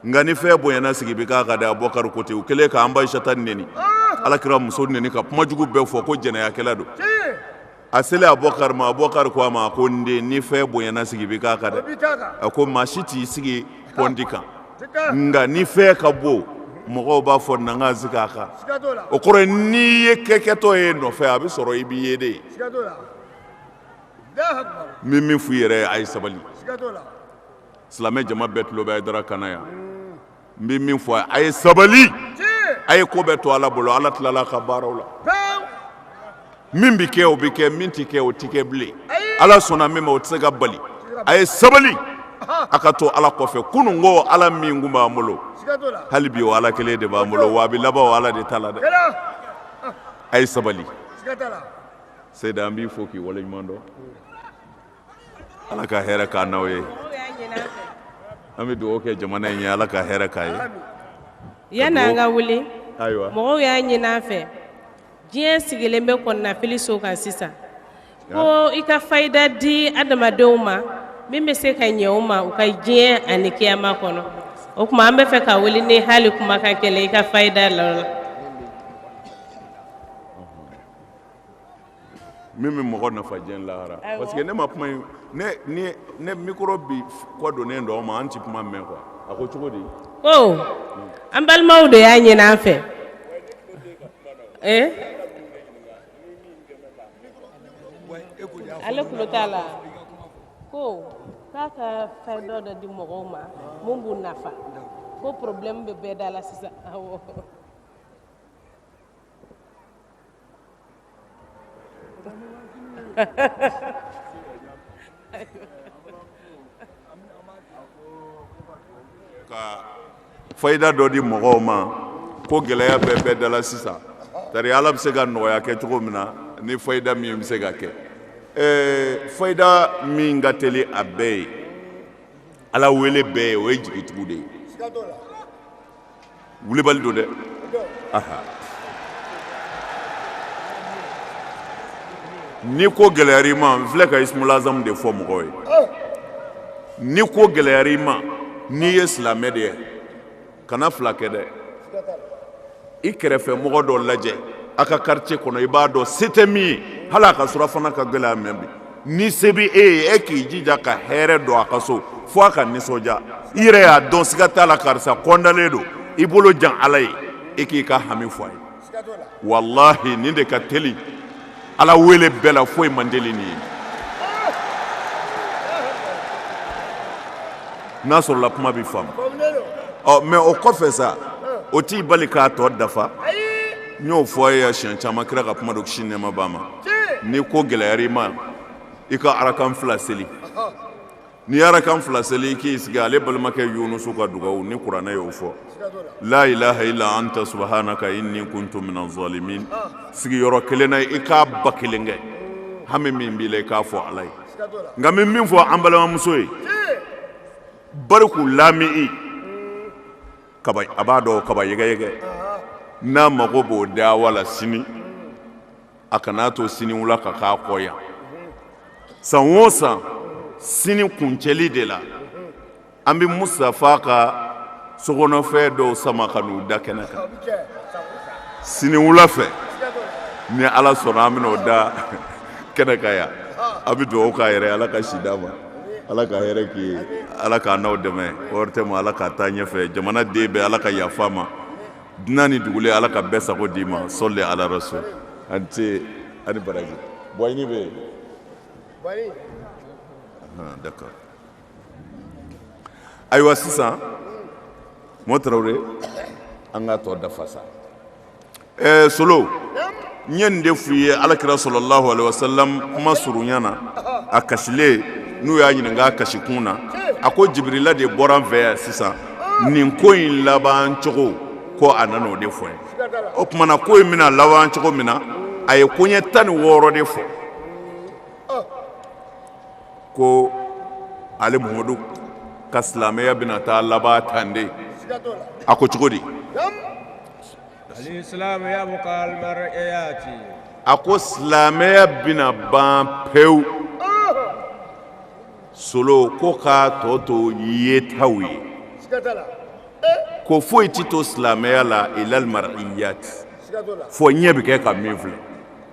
nka ni fɛn bonyana sigi bɛ k'a kan dɛ Abubakari ko ten u kɛlen k'an ba Aisata neni alakira muso neni ka kumajugu bɛɛ fɔ ko jɛnɛyakɛla don a selen Abubakari ma Abubakari ko a ma ko n den ni fɛn bonyana sigi bɛ k'a kan dɛ a ko maa si t'i sigi pɔndi kan nka ni fɛn ka bon mɔgɔw b'a fɔ na ka sigi a kan o kɔrɔ n'i ye kɛkɛtɔ ye nɔfɛ a bɛ sɔrɔ i b'i ye de ye n bɛ min f'u yɛrɛ a ye sabali silamɛ jama bɛɛ tulo bɛ Hayidara kan na yan n bɛ min fɔ a ye sabali a ye ko bɛɛ to ala bolo ala tilala ka baaraw la min bɛ kɛ o bɛ kɛ min tɛ kɛ o tɛ kɛ bilen ala sɔnna min ma o tɛ se ka bali a ye sabali a ka to ala kɔfɛ kunun o ala min kun b'an bolo hali bi o ala kelen de b'an bolo wa a bɛ laban o ala de ta la dɛ a ye sabali Seyda an b'i fo k'i waleɲuman dɔn Ala ka hɛrɛ k'an n'aw ye an bɛ dugawu kɛ jamana in ye Ala ka hɛrɛ k'a ye yanni an ka wuli ayiwa mɔgɔw y'a ɲini an fɛ diɲɛ sigilen bɛ kɔnɔnafili so kan sisan ko i ka fayida di adamadenw ma min bɛ se ka ɲɛ u ma u ka diɲɛ ani kiyama kɔnɔ o tuma an bɛ fɛ ka wuli ni hali kumakan kelen i ka fayida la min bɛ mɔgɔ nafa diɲɛ lahara parce que ne ma kuma in ne ni ne micro bi kɔ donnen don an ma an tɛ kuma mɛn quoi a ko cogo di. ko an balimaw de y'a ɲini an fɛ. ale tulo t'a la ko k'a ka fayida dɔ di mɔgɔw ma min b'u nafa ko problème bɛ bɛɛ da la sisan awɔ. Ka fayida dɔ di mɔgɔw ma ko gɛlɛya bɛ bɛɛ da la sisan tari ala bɛ se ka nɔgɔya kɛ cogo min na ni fayida min bɛ se ka kɛ fayida min ka teli a bɛɛ ye ala wele bɛɛ ye o ye jigitugu de ye wulibali don dɛ ni ko gɛlɛyara i ma n filɛ ka ismul azam de fɔ mɔgɔw ye ni ko gɛlɛyara i ma n'i ye silamɛ de ye kana fila kɛ dɛ i kɛrɛfɛ mɔgɔ dɔ lajɛ a ka quartier kɔnɔ i b'a dɔn se tɛ min ye hali a ka surafana ka gɛlɛn a ma bi ni se bɛ e ye e k'i jija ka hɛrɛ don a ka so fo a ka nisɔndiya i yɛrɛ y'a dɔn siga t'a la karisa kontanlen don i bolo jan ala ye e k'i ka hami fɔ a ye walahi nin de ka teli ala wele bɛɛ la foyi man teli nin ye n'a sɔrɔla kuma bɛ faamu mais o kɔfɛ sa o t'i bali k'a tɔ dafa n y'o fɔ a ye siɲɛ caman kira ka kuma don kisi nɛɛma b'a ma ni ko gɛlɛyara i ma i ka arakan fila seli n'i arakan fila seli i k'i sigi ale balimakɛ yunusu ka dugawu ni kuranɛ y'o fɔ la ilaha illa anta subhanaka inni kuntu minaz zalimin sigiyɔrɔ kelen na i k'a ba kelen kɛ hami min b'i la i k'a fɔ ala ye nka n bɛ min fɔ an balimamuso ye bariku laami'i kaba a b'a dɔn kaba yɛgɛyɛgɛ n'a mago b'o dawa la sini a kan'a to siniwula ka k'a kɔ yan san o san sini kuncɛli de la an bɛ mustafa ka sokɔnɔfɛn dɔw sama ka n'u da kɛnɛ kan siniwula fɛ ni ala sɔnna an bɛna o da kɛnɛ kan yan a bɛ dugawu k'a yɛrɛ ala ka si d'a ma ala ka hɛrɛ k'i ye ala k'a n'aw dɛmɛ o yɛrɛ tɛ ma ala k'a taa ɲɛfɛ jamanaden bɛɛ ala ka yafa ma dunan ni dugulen ala ka bɛɛ sago d'i ma sɔli ala rasul a ni ce a ni baraji bɔɲini bɛ yen bɔɲini d'accord ayiwa sisan mo tarawele an k'a tɔ dafa sa ɛɛ solo N ye nin de f'u ye ala kira sallallahu alaihi wasallam kuma surunya na a kasilen n'u y'a ɲininka a kasikun na a ko jibirila de bɔra an fɛ yan sisan nin ko in laban cogo ko a nana o de fɔ n ye o tuma na ko in bɛna laban cogo min na a ye koɲɛ tan ni wɔɔrɔ de fɔ ko ale muhamadu ka silamɛya bɛna taa laban tan de a ko cogo di a ko silamɛya bɛna ban pewu solo ko k'a tɔ to yetaw ye ko foyi tɛ to silamɛya la illal mar'iyat fo ɲɛ bɛ kɛ ka min filɛ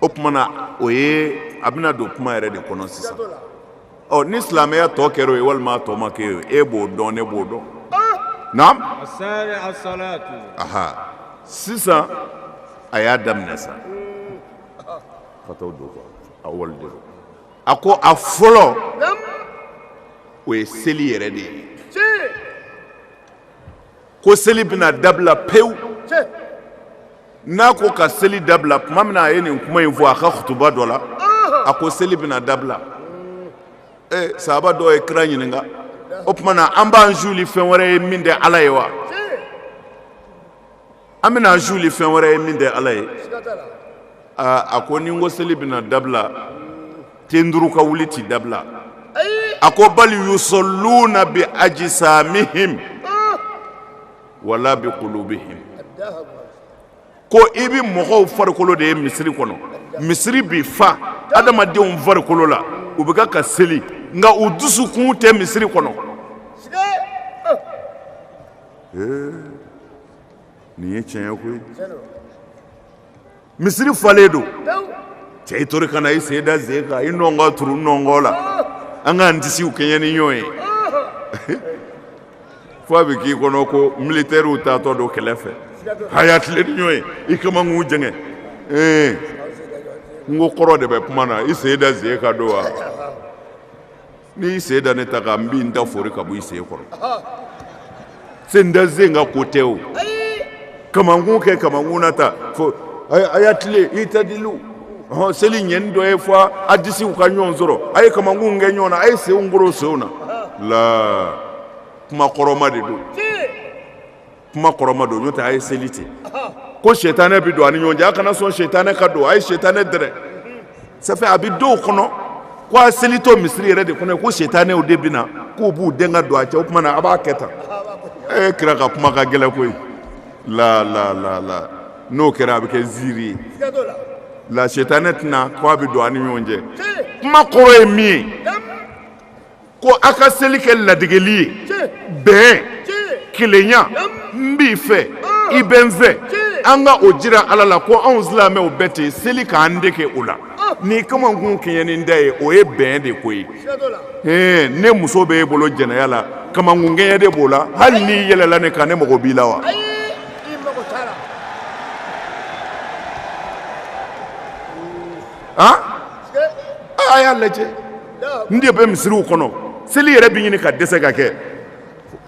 o tuma na o ye a bɛna don kuma yɛrɛ de kɔnɔ sisan ɔ ni silamɛya tɔ kɛra o ye walima a tɔ ma kɛ o e b'o dɔn ne b'o dɔn naam aha sisan a y'a daminɛ sa ka t'o don quoi a wale de don a ko a fɔlɔ o ye seli yɛrɛ de ye ko seli bɛna dabila pewu n'a ko ka seli dabila tuma min na a ye nin kuma in fɔ a ka kutuba dɔ la a ko seli bɛna dabila ee sahaba dɔ ye kira ɲininka o tuma na an b'an suuli fɛn wɛrɛ ye min tɛ ala ye wa an bɛna an suuli fɛn wɛrɛ ye min tɛ ala ye aa a ko ni n ko seli bɛna dabila ten turu ka wuli tɛ dabila a ko bal yusalluna bi ajsamihim wala bi kulubihim ko i bɛ mɔgɔw farikolo de ye misiri kɔnɔ misiri bɛ fa adamadenw farikolo la u bɛ ka ka seli nka u dusukun tɛ misiri kɔnɔ nin ye tiɲɛ ye koyi misiri falen don cɛ i tori ka na i sen da sen kan i nɔnkɔn turu n nɔnkɔn la an k'an disiw kɛɲɛ ni ɲɔgɔn ye fo a bɛ k'i kɔnɔ ko militɛriw taatɔ don kɛlɛ fɛ a y'a tilen ni ɲɔgɔn ye i kamankun jɛngɛ ee n ko kɔrɔ de bɛ kuma na i sen da sen kan don wa N'i y'i sen da ne ta kan n bɛ n ta fori ka bɔ i sen kɔrɔ, ɔhɔ, sen da sen kan ko tɛ o, ayi, kamankun kɛ kamankun na tan, fo a y'a tilen itadilu, ɔhɔ, seli ɲɛni dɔ ye fo a disiw ka ɲɔgɔn sɔrɔ, a ye kamankunw kɛ ɲɔgɔn na, a ye senw koro senw na, la kuma kɔrɔma de don. kuma kɔrɔma don n'o tɛ a ye seli ten ko sɛtanɛ bɛ don a ni ɲɔgɔn cɛ a kana sɔn sɛtanɛ ka don a ye sɛtanɛ dɛrɛ safɛ a bɛ dɔw kɔnɔ ko a selitɔ misiri yɛrɛ de kɔnɔ ko sɛtanɛw de bɛ na k'u b'u den ka don a cɛ o tuma na a b'a kɛ tan ee kira ka kuma ka gɛlɛn koyi la la la la n'o kɛra a bɛ kɛ ziiri ye la sɛtanɛ tɛna ko a bɛ don a ni ɲɔgɔn cɛ kuma kɔrɔ ye min ye ko a ka seli kɛ ladegeli ye bɛn kelenya n b'i fɛ i bɛ n fɛ an ka o jira ala la ko anw silamɛw bɛɛ ten seli k'an dege o la ni kamankun kɛɲɛni da ye o ye bɛn de ko ye ne muso bɛ e bolo jɛnɛya la kamankun kɛɲɛ de b'o la hali n'i yɛlɛla ne kan ne mago b'i la wa a y'a lajɛ n de bɛ misiriw kɔnɔ seli yɛrɛ bɛ ɲini ka dɛsɛ ka kɛ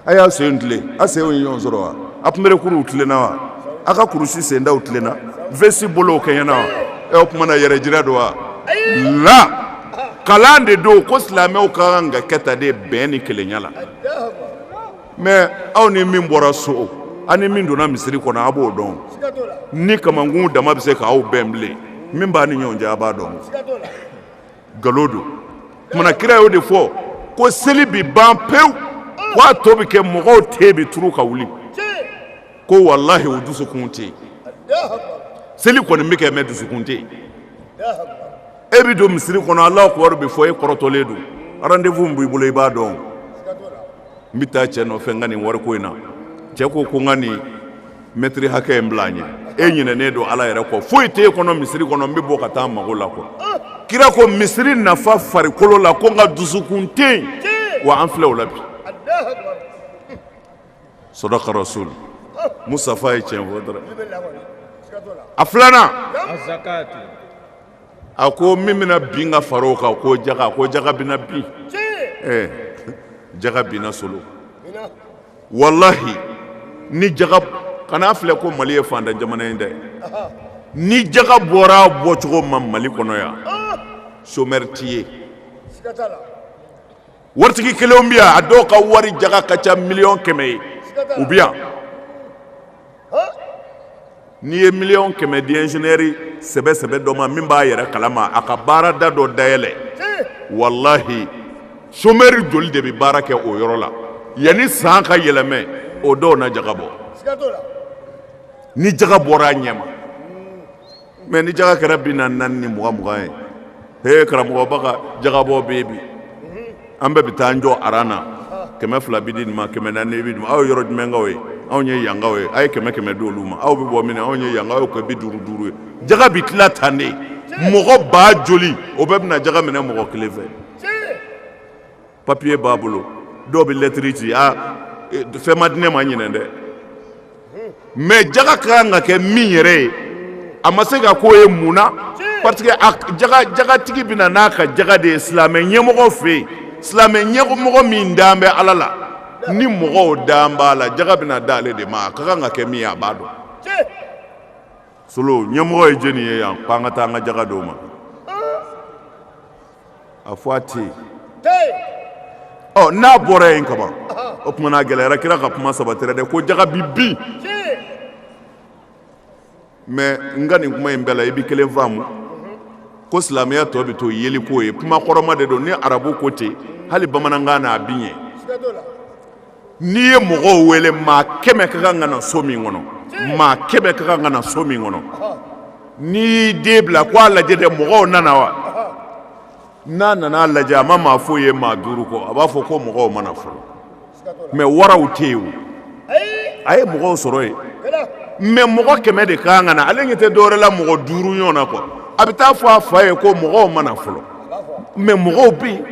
a y'a sen tilen a senw ye ɲɔgɔn sɔrɔ wa a kunberekuruw tilenna wa a ka kurusi sendaw tilenna vɛsi bolow kɛɲɛna wa ɛ o tuma na yɛrɛjira don wala kalan de don ko silamɛw ka kan ka kɛ tan de bɛn ni kelenya la mɛ aw ni min bɔra so aw ni min donna misiri kɔnɔ a b'o dɔn ni kamankun dama bɛ se k'aw bɛn bilen min b'a ni ɲɔgɔn cɛ a b'a dɔn nkalon don tuma na kira y'o de fɔ ko seli bɛ ban pewu k'a tɔ bɛ kɛ mɔgɔw ten bɛ turu ka wuli ko walahi o dusukun tɛ yen seli kɔni bɛ kɛ mɛ dusukun tɛ yen e bɛ don misiri kɔnɔ alahu akibaru bɛ fɔ e kɔrɔtɔlen don rendez-vous b'i bolo i b'a dɔn n bɛ taa cɛ nɔfɛ n ka nin wariko in na cɛ ko ko n ka nin mɛtiri hakɛ in bila an ɲɛ e ɲinɛnen don ala yɛrɛ kɔ foyi t'e kɔnɔ misiri kɔnɔ n bɛ bɔ ka taa n mago la ko kira ko misiri na fa farikolo la ko nka dusukun tɛ yen wa an filɛ o la bi sadaka rasulu musafa ye tiɲɛ fɔ dɔrɔn a filanan a ko min bɛna bin ka fara o kan ko jaga ko jaga bɛna bin ɛɛ jaga binna solo walahi ni jaga kana filɛ ko mali ye faantan jamana ye dɛ ni jaga bɔra bɔcogo ma mali kɔnɔ yan somɛri tɛ ye waritigi kelenw bɛ yan a dɔw ka wari jaga ka ca miliyɔn kɛmɛ ye u bɛ yan N'i ye miliyɔn kɛmɛ di ɛnzeniyɛri sɛbɛ sɛbɛ dɔ ma min b'a yɛrɛ kalama a ka baarada dɔ dayɛlɛ walahi somɛri joli de bɛ baara kɛ o yɔrɔ la yanni san ka yɛlɛmɛ o dɔw na jaga bɔ ni jaga bɔra a ɲɛ mɛ ni jaga kɛra bi naani naani ni mugan mugan ye he karamɔgɔba ka jagabɔ bɛ bi an bɛɛ bɛ taa an jɔ aran na kɛmɛ fila bi di nin ma kɛmɛ naani bi d'o ma aw ye yɔrɔ jumɛnkaw ye anw ye yankaw ye aw ye kɛmɛ kɛmɛ di olu ma aw bɛ bɔ min anw ye yankaw ye ko bi duuru duuru ye jaga bi tila tan de mɔgɔ ba joli o bɛɛ bɛna jaga minɛ mɔgɔ kelen fɛ papiye b'a bolo dɔw bɛ lɛtiri ci a e, fɛn ma di ne ma ɲinan dɛ mɛ jaga ka kan ka kɛ min yɛrɛ ye a ma se ka k'o ye mun na parce que jagatigi bɛna n'a ka jaga de ye silamɛ ɲɛmɔgɔ fɛ yen silamɛ ɲɛmɔgɔ min dan bɛ ala la ni mɔgɔw dan b'a la jaga bɛna da ale de ma a ka kan ka kɛ min ye a b'a dɔn solo ɲɛmɔgɔ ye jeni ye yan k'an ka taa an ka jaga d'o ma a fɔ a tɛ yen n'a bɔra yen kaban o tuma n'a gɛlɛyara kira ka kuma sabatira dɛ ko jaka bɛ bin mɛ n ka nin kuma in bɛɛ la i bɛ kelen faamu ko silamɛya tɔ bɛ to yeli k'o ye kuma kɔrɔma de don ni arabu ko ten hali bamanankan na a bɛ yen n'i ye mɔgɔw wele maa kɛmɛ ka kan ka na so min kɔnɔ maa kɛmɛ ka kan ka na so min kɔnɔ n'i y'i den bila ko a lajɛ dɛ mɔgɔw nana wa n'a nana a lajɛ a ma maa foyi ye maa duuru kɔ a b'a fɔ ko mɔgɔw ma na fɔlɔ mɛ waraw tɛ yen o a ye mɔgɔw sɔrɔ yen mɛ mɔgɔ kɛmɛ de ka kan ka na ale ɲɛ tɛ dɔwɛrɛ la mɔgɔ duuru ɲɔgɔn na kɔ a bɛ taa fɔ a fa ye ko mɔgɔw ma na fɔlɔ mɛ mɔgɔw bɛ yen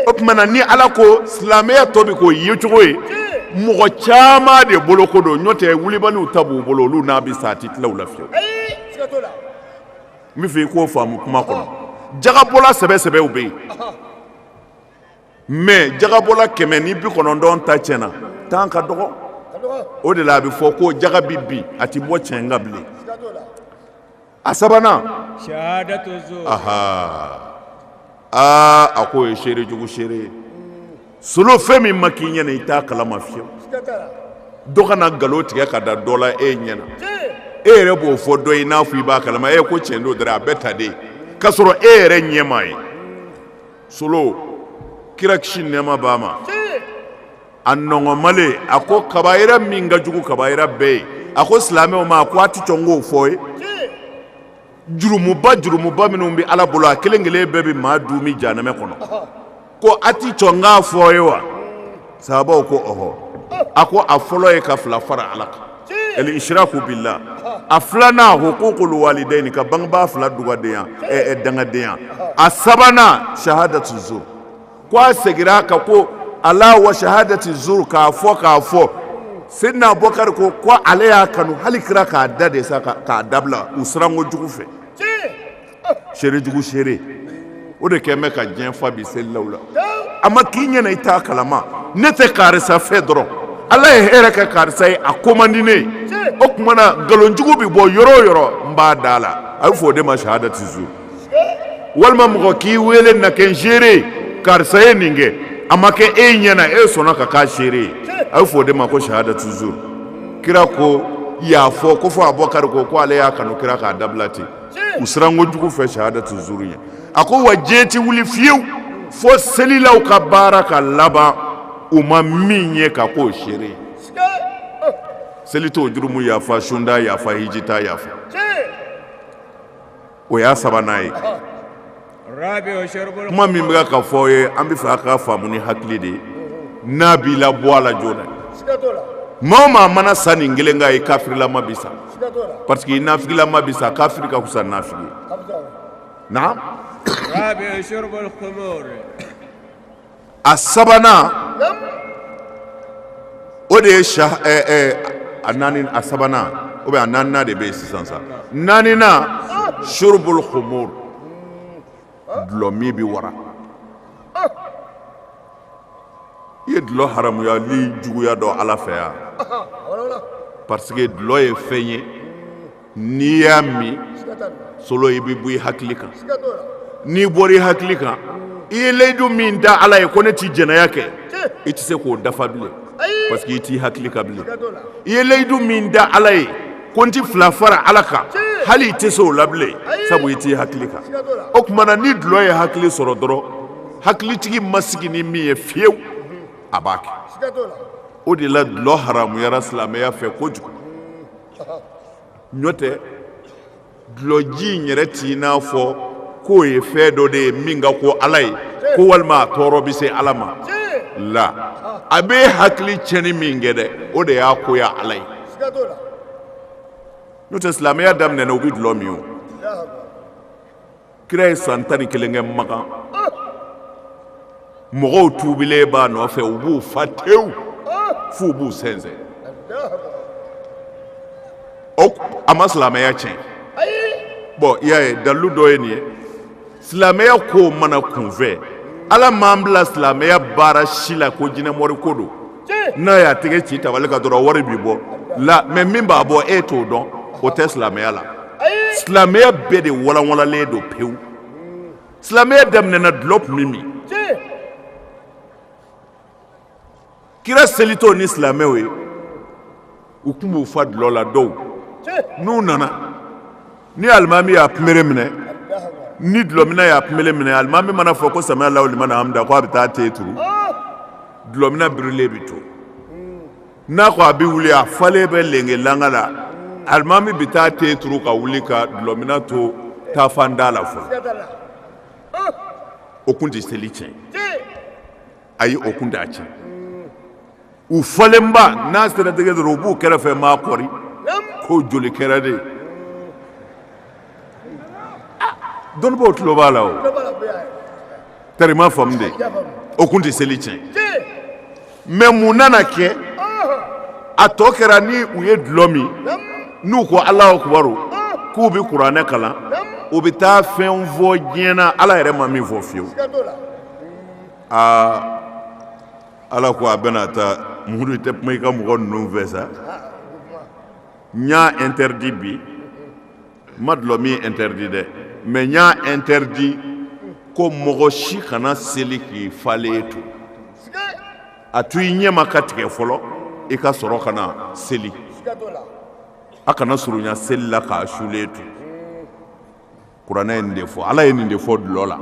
o tuma na ni ala ko silamɛya tɔ bɛ k'o yecogo ye mɔgɔ caman de bolo ko don n'o tɛ wulibaliw ta b'u bolo olu n'a bɛ sa a tɛ tila u la fiyewu n bɛ fɛ i k'o faamu kuma kɔnɔ jagabɔla sɛbɛ sɛbɛw bɛ yen mɛ jagabɔla kɛmɛ ni bi kɔnɔntɔn ta tiɲɛna tan ka dɔgɔ o de la a bɛ fɔ ko jaga bɛ bin a tɛ bɔ tiɲɛ kan bilen a sabanan aa a ko o ye seere jugu seere ye solo fɛn min ma k'i ɲɛna i t'a kalama fiyewu dɔ kana nkalon tigɛ ka da dɔ la e ɲɛna e yɛrɛ b'o fɔ dɔ ye n'a fɔ i b'a kalama e ko tiɲɛ don dɔrɔn a bɛɛ ta de k'a sɔrɔ e yɛrɛ ɲɛ m'a ye solo kira kisi nɛɛma b'a ma a nɔgɔma a ko kabayira min ka jugu kabayira bɛɛ ye a ko silamɛw ma a ko a tɛ sɔn k'o fɔ ye jurumuba jurumuba minnu bɛ ala bolo a kelen kelen bɛɛ bɛ maa duumɛ jahanama kɔnɔ ko a tɛ sɔn k'a fɔ ye wa sahabaw ko ɔhɔ a ko a fɔlɔ ye ka fila fara ala kan al ishraku billah a filanan ukukul walidayini ka bangebaa fila dugadenya dangadenya a sabanan shahadatu zur ko a segira a kan ko ala wa shahadati zur k'a fɔ k'a fɔ sidina abubakar ko ko ale y'a kanu hali kira k'a da de sa k'a dabila u siranko jugu fɛ seere jugu seere o de kɛlen bɛ ka diɲɛ fa bi selilaw la a ma k'i ɲɛna i t'a kalama ne tɛ karisa fɛ dɔrɔn ala ye hɛrɛ kɛ karisa ye a ko man di ne ye o tuma na nkalon jugu bɛ bɔ yɔrɔ o yɔrɔ n b'a da la a bɛ fɔ o de ma shahadati zur walima mɔgɔ k'i wele na kɛ n seere karisa ye nin kɛ a ma kɛ e ɲɛna e sɔnna ka k'a seere ye a bɛ fɔ o de ma ko shahadatu zur kira ko y'a fɔ k'o fɔ abubakari ko ko ale y'a kanu kira k'a dabila ten u siranko jugu fɛ shahadatu zur ɲɛ a ko wa diɲɛ tɛ wuli fiyewu fo selilaw ka baara ka laban u ma min ye ka k'o seere ye seli t'o jurumu yafa sun t'a yafa hiji t'a yafa o y'a sabanan ye kuma min bɛ ka fɔ ye an bɛ fɛ a ka faamu ni hakili de ye n'a b'i la bɔ a la joona maa o maa mana sa nin kelen kan i kafirilama bi sa parce que i nafigilama bi sa kafiri ka fisa nafigi ye a sabanan o de ye a naani a sabanan ou bien a naaninan de bɛ yen sisan sa naaninan shurbul khumur dulɔ min bɛ wara i ye dulɔ haramuyali juguya dɔn ala fɛ yan parce que dulɔ ye fɛn ye n'i y'a min solo i bɛ bɔ i hakili kan n'i bɔra i hakili kan i ye layidu min da ala ye ko ne tɛ jɛnɛya kɛ i tɛ se k'o dafa bilen parce que i t'i hakili kan bilen i ye layidu min da ala ye ko n tɛ fila fara ala kan hali i tɛ se o la bilen sabu i t'i hakili kan o tuma na ni dulɔ ye hakili sɔrɔ dɔrɔn hakilitigi ma sigi ni min ye fiyewu a b'a kɛ o de la dulɔ haramuyara silamɛya fɛ kojugu n'o tɛ dulɔji in yɛrɛ t'i n'a fɔ k'o ye fɛn dɔ de ye min ka ko ala ye ko walima a tɔɔrɔ bɛ se ala ma la a bɛ hakili tiɲɛni min kɛ dɛ o de y'a koya ala ye n'o tɛ silamɛya daminɛna u bɛ dulɔ min o kira ye san tan ni kelen kɛ makan mɔgɔw tuubilen b'a nɔfɛ u b'u fa tewu f'u b'u sɛnsɛn o a ma silamɛya tiɲɛ bon i y'a ye dalilu dɔ ye nin ye silamɛya kow ma na kunfɛ ala m'an bila silamɛya baara si la ko jinɛmɔriko don n'a y'a tɛgɛ ci tabali kan dɔrɔn wari bi bɔ la mais min b'a bɔ e t'o dɔn o tɛ silamɛya la silamɛya bɛɛ de walanwalanlen don pewu silamɛya daminɛna dulɔ tun bɛ min kira selitɔ ni silamɛw ye u tun b'u fa dulɔ la dɔw n'u nana ni alimami y'a kunbere minɛ ni dulɔmina y'a kunbere minɛ alimami mana fɔ ko samiya lahu liman hamida ko a bɛ taa ten turu dulɔmina birilen bɛ to n'a ko a bɛ wuli a falen bɛ lenge langa la alimami bɛ taa ten turu ka wuli ka dulɔmina to taafan da la fɔlɔ o tun tɛ seli tiɲɛ ayi o kun t'a tiɲɛ u falenba n'a sera tɛgɛ dɔrɔn u b'u kɛrɛfɛ maa kɔri ko joli kɛra de dɔnnibaw tulo b'a la o tari ma faamu de o kun tɛ seli tiɲɛ mais mun nana kɛ a tɔ kɛra ni u ye dulɔ min n'u ko alahu akibaru k'u bɛ kuranɛ kalan u bɛ taa fɛn fɔ diɲɛ na ala yɛrɛ ma min fɔ fiyewu aa ala ko a bɛna taa muru tɛ kuma i ka mɔgɔ ninnu fɛ sa n y'a interdit bi n ma dulɔ min interdit dɛ mais n y'a interdit ko mɔgɔ si kana seli k'i falen to a to i ɲɛma ka tigɛ fɔlɔ i ka sɔrɔ ka na seli a kana surunya seli la k'a sulen to kuranɛ ye nin de fɔ ala ye nin de fɔ dulɔ la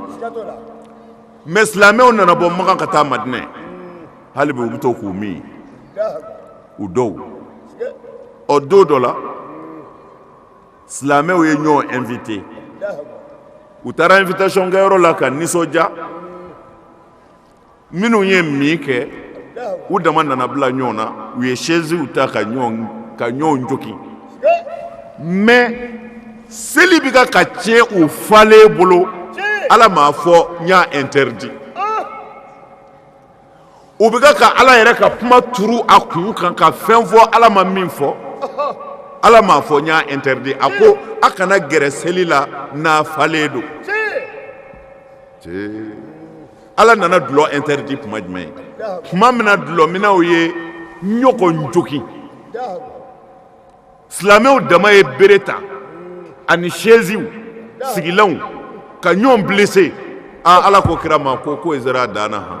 mais silamɛw nana bɔ makan ka taa madinɛ hali bi u bɛ to k'u min u dɔw o don dɔ la silamɛw ye ɲɔgɔn invité u taara invitation kɛyɔrɔ la ka nisɔndiya minnu ye min kɛ u dama nana bila ɲɔgɔn na u ye sɛsiw ta ka ka ɲɔgɔn jogin mais seli bɛ ka ka tiɲɛ u falen bolo ala m'a fɔ n y'a interdit u bɛ ka ka ala yɛrɛ ka kuma turu a kun kan ka fɛn fɔ ala ma min fɔ ala m'a fɔ n y'a interdit a ko a kana gɛrɛ seli la n'a falen don ala nana dulɔ interdit kuma jumɛn ye tuma min na dulɔminnaw ye ɲɔgɔn jogin silamɛw dama ye bere ta ani sɛsiw sigilanw ka ɲɔgɔn blessé aa ala ko kira ma ko k'o sera a dan na han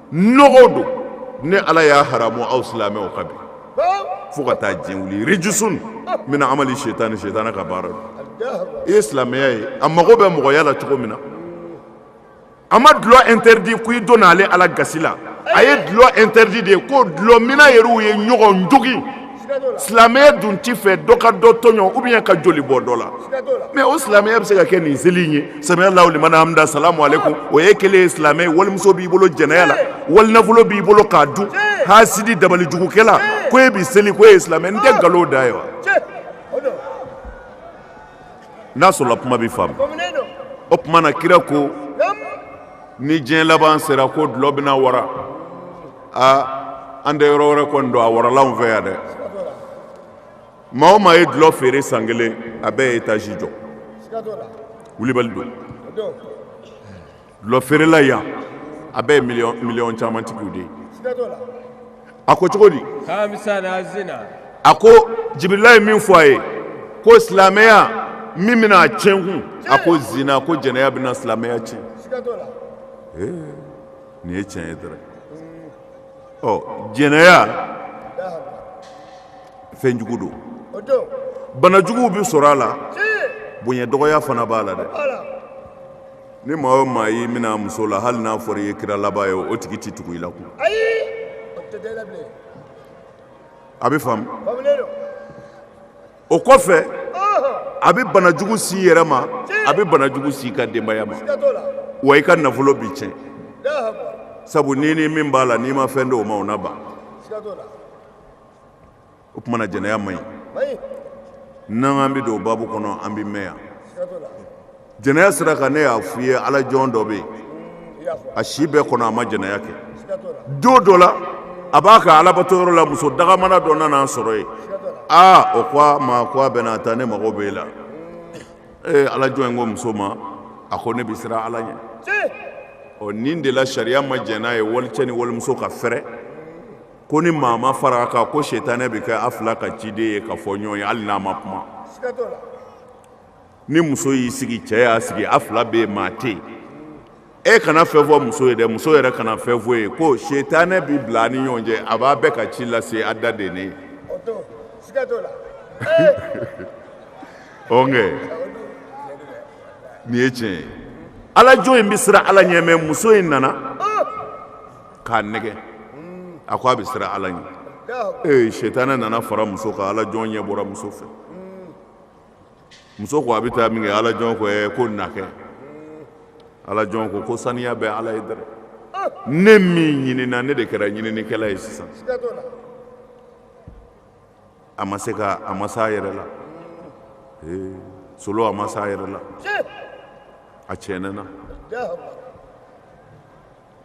nɔgɔ don ne ala y'a haramu aw silamɛw kan bi fo ka taa diɲɛ wuli rijisun min amali sitani sitanɛ ka baara don i ye silamɛya ye a mago bɛ mɔgɔya la cogo min na a ma dulɔ interdit ko i donna ale ala gasi la a ye dulɔ interdit de ko dulɔminna yɛrɛw ye ɲɔgɔn jogin silamɛya dun t'a fɛ dɔ ka dɔ tɔɲɔ ou bien ka joli bɔ dɔ la mais o silamɛya bɛ se ka kɛ nin seli in ye sami alahu liman hamida asalamu aleykum o ye kelen ye silamɛ walimuso b'i bolo jɛnɛya la walinafolo b'i bolo k'a dun hasidi dabalijugukɛla ko e bɛ seli ko e ye silamɛ nin tɛ nkalon dan ye wa n'a sɔrɔla kuma bɛ faamu o tuma na kira ko ni diɲɛ laban sera ko dulɔ bɛna wara aa an tɛ yɔrɔ wɛrɛ kɔni dɔn an wara la anw fɛ yan dɛ maa o maa ye dulɔ feere san kelen a bɛɛ ye etazi jɔ wulibali don dulɔ feerela yan a bɛɛ ye miliyɔn caman tigiw de ye a ko cogo di a ko jibirila ye min fɔ a ye ko silamɛya min bɛna a tiɲɛ kun a ko zina ko jɛnɛya bɛna silamɛya tiɲɛ nin ye tiɲɛ ye dɔrɔn ɔ jɛnɛya fɛn jugu don bana juguw bɛ sɔrɔ a la bonya dɔgɔya fana b'a la dɛ ni maa o maa y'i minɛ a muso la hali n'a fɔra i ye kira laban ye o tigi tɛ tugu i la kun a bɛ faamu o kɔfɛ a bɛ banajugu s'i yɛrɛ ma a bɛ banajugu s'i ka denbaya ma wa i ka nafolo bɛ tiɲɛ sabu ni ni min b'a la n'i ma fɛn di o ma o na ban o tuma na jɛnɛya man ɲi n'an bɛ don o baabu kɔnɔ an bɛ mɛn yan jɛnɛya sira kan ne y'a fɔ i ye Ala jɔn dɔ bɛ yen, a si bɛɛ kɔnɔ a ma jɛnɛya kɛ, don dɔ la a b'a ka Alabato yɔrɔ la muso dagamana dɔ nana a sɔrɔ yen, aa o ko a ma ko a bɛna taa ne mago b'e la, ee Ala jɔn in ko muso ma a ko ne bɛ siran Ala ɲɛ, tiɲɛ, ɔ nin de la sariya ma jɛn n'a ye walicɛ ni walimuso ka fɛrɛ ko ni maa ma fara a kan ko sitanɛ bɛ kɛ a fila ka ciden ye ka fɔ ɲɔgɔn ye hali n'a ma kuma, siga t'o la ni muso y'i sigi cɛ y'a sigi a fila bɛ yen maa tɛ yen e kana fɛn fɔ muso ye dɛ muso yɛrɛ kana fɛn f'i ye ko sitanɛ bɛ bila ni ɲɔgɔn cɛ a b'a bɛɛ ka ci lase a da de ne ɔnkɛ nin ye tiɲɛ ye ala jɔn in bɛ siran ala ɲɛ mɛ muso in nana k'a nɛgɛ a ko a bɛ siran ala ɲɛ ee sitanɛ nana fara muso kan ala jɔn ɲɛ bɔra muso fɛ muso ko a bɛ taa minkɛ ala jɔn ko ɛ ko na kɛ ala jɔn ko ko saniya bɛ ala ye dɛrɛ ne min ɲinina ne de kɛra ɲininikɛla ye sisan a ma se ka a ma s'a yɛrɛ la ee solo a ma s'a yɛrɛ la a tiɲɛna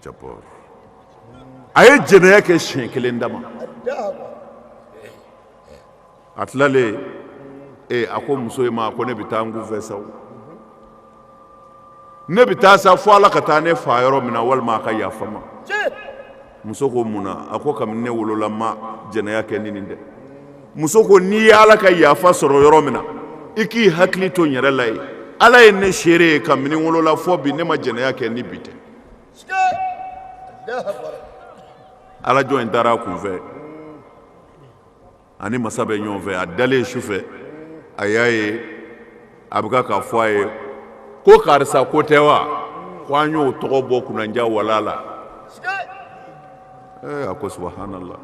japɔr a ye jɛnɛya kɛ siɲɛ kelen dama a tilalen ee a ko muso in ma ko ne bɛ taa n kun fɛ sa ne bɛ taa sa fo ala ka taa ne faga yɔrɔ min na walima a ka yafa n ma muso ko mun na a ko kamini ne wolola n ma jɛnɛya kɛ ni nin tɛ muso ko n'i ye ala ka yafa sɔrɔ yɔrɔ min na i k'i hakili to n yɛrɛ la yen ala ye ne seere ye kamini n wolola fɔ bi ne ma jɛnɛya kɛ ni bi tɛ ala jɔn in taara a kun fɛ ani masa bɛ ɲɔgɔn fɛ a dalen su fɛ a y'a ye a bɛ k'a fɔ a ye ko karisa ko tɛ wa ko an y'o tɔgɔ bɔ kunnaja wala la a ko subhanallah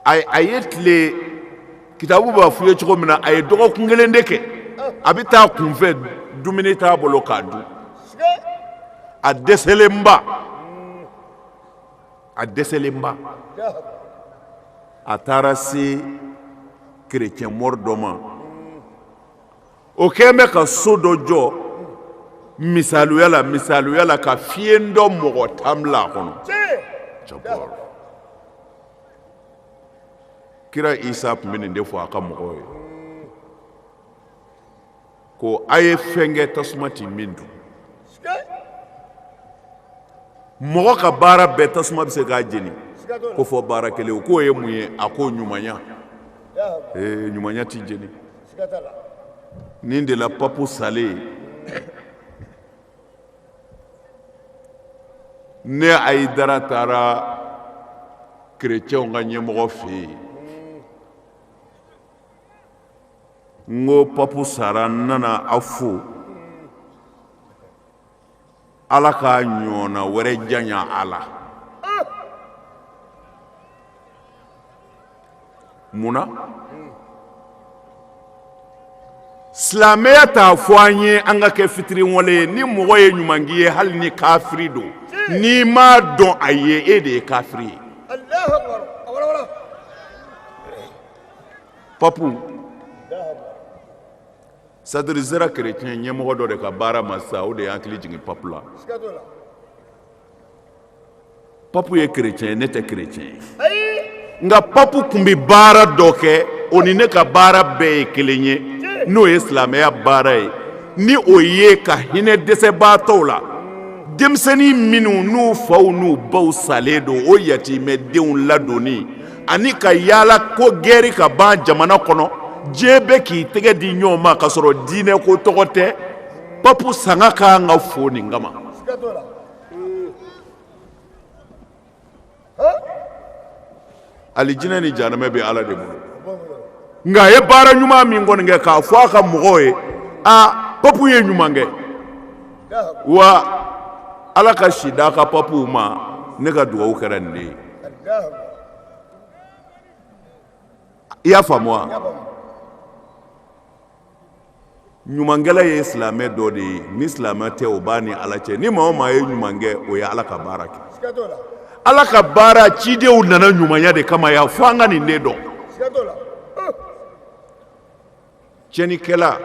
a ye tile kitabu b'a f'i ye cogo min na a ye dɔgɔkun kelen de kɛ a bɛ taa kunfɛ dumuni t'a bolo k'a dun a dɛsɛlenba a dɛsɛlenba a taara se kerecɛnmɔri dɔ ma o kɛlen bɛ ka so dɔ jɔ misaliya la misaliya la ka fiyentɔ mɔgɔ tan bila a kɔnɔ kira isa tun bɛ nin de fɔ a ka mɔgɔw ye ko a ye fɛn kɛ tasuma tɛ min dun mɔgɔ ka baara bɛɛ tasuma bɛ se k'a jeni ko fɔ baara kelen o k'o ye mun ye a ko ɲumanya ee ɲumanya tɛ jeni nin de la papu salen ne ayidara taara kerecɛnw ka ɲɛmɔgɔ fɛ yen n ko papu sara n nana aw fo ala k'a ɲɔgɔnna wɛrɛ janya a la mun na silamɛya t'a fɔ an ye an ka kɛ fitiriwale ye ni mɔgɔ ye ɲuman k'i ye hali ni kafiri don n'i m'a dɔn a ye e de ye kafiri ye papu c'est-à-dire sera kerecɛn ɲɛmɔgɔ dɔ de ka baara ma sa o de y'an hakili jigin papu la papu ye kerecɛn ye ne tɛ kerecɛn ye nka papu tun bɛ baara dɔ kɛ o ni ne ka baara bɛɛ ye kelen ye n'o ye silamɛya baara ye ni o ye ka hinɛ dɛsɛbaatɔw la denmisɛnnin minnu n'u faw n'u baw salen don o yatimɛdenw ladonni ani ka yaala ko gɛri ka ban jamana kɔnɔ diɲɛ bɛɛ k'i tɛgɛ di ɲɔgɔn ma k'a sɔrɔ diinɛ ko tɔgɔ tɛ papu sanga ka kan ka fo nin kama alijinɛ ni jahanama bɛ ala de bolo nka a ye baara ɲuman min kɔni kɛ k'a fɔ a ka mɔgɔw ye aa papu ye ɲuman kɛ wa ala ka si d'a ka papuw ma ne ka dugawu kɛra nin de ye i y'a faamu wa ɲumankɛla ye silamɛ dɔ de ye ni silamɛ tɛ o b'a ni ala cɛ ni maa o maa ye ɲuman kɛ o ye ala ka baara kɛ ala ka baara cidenw nana ɲumanya de kama yan fo an ka nin de dɔn cɛnikɛla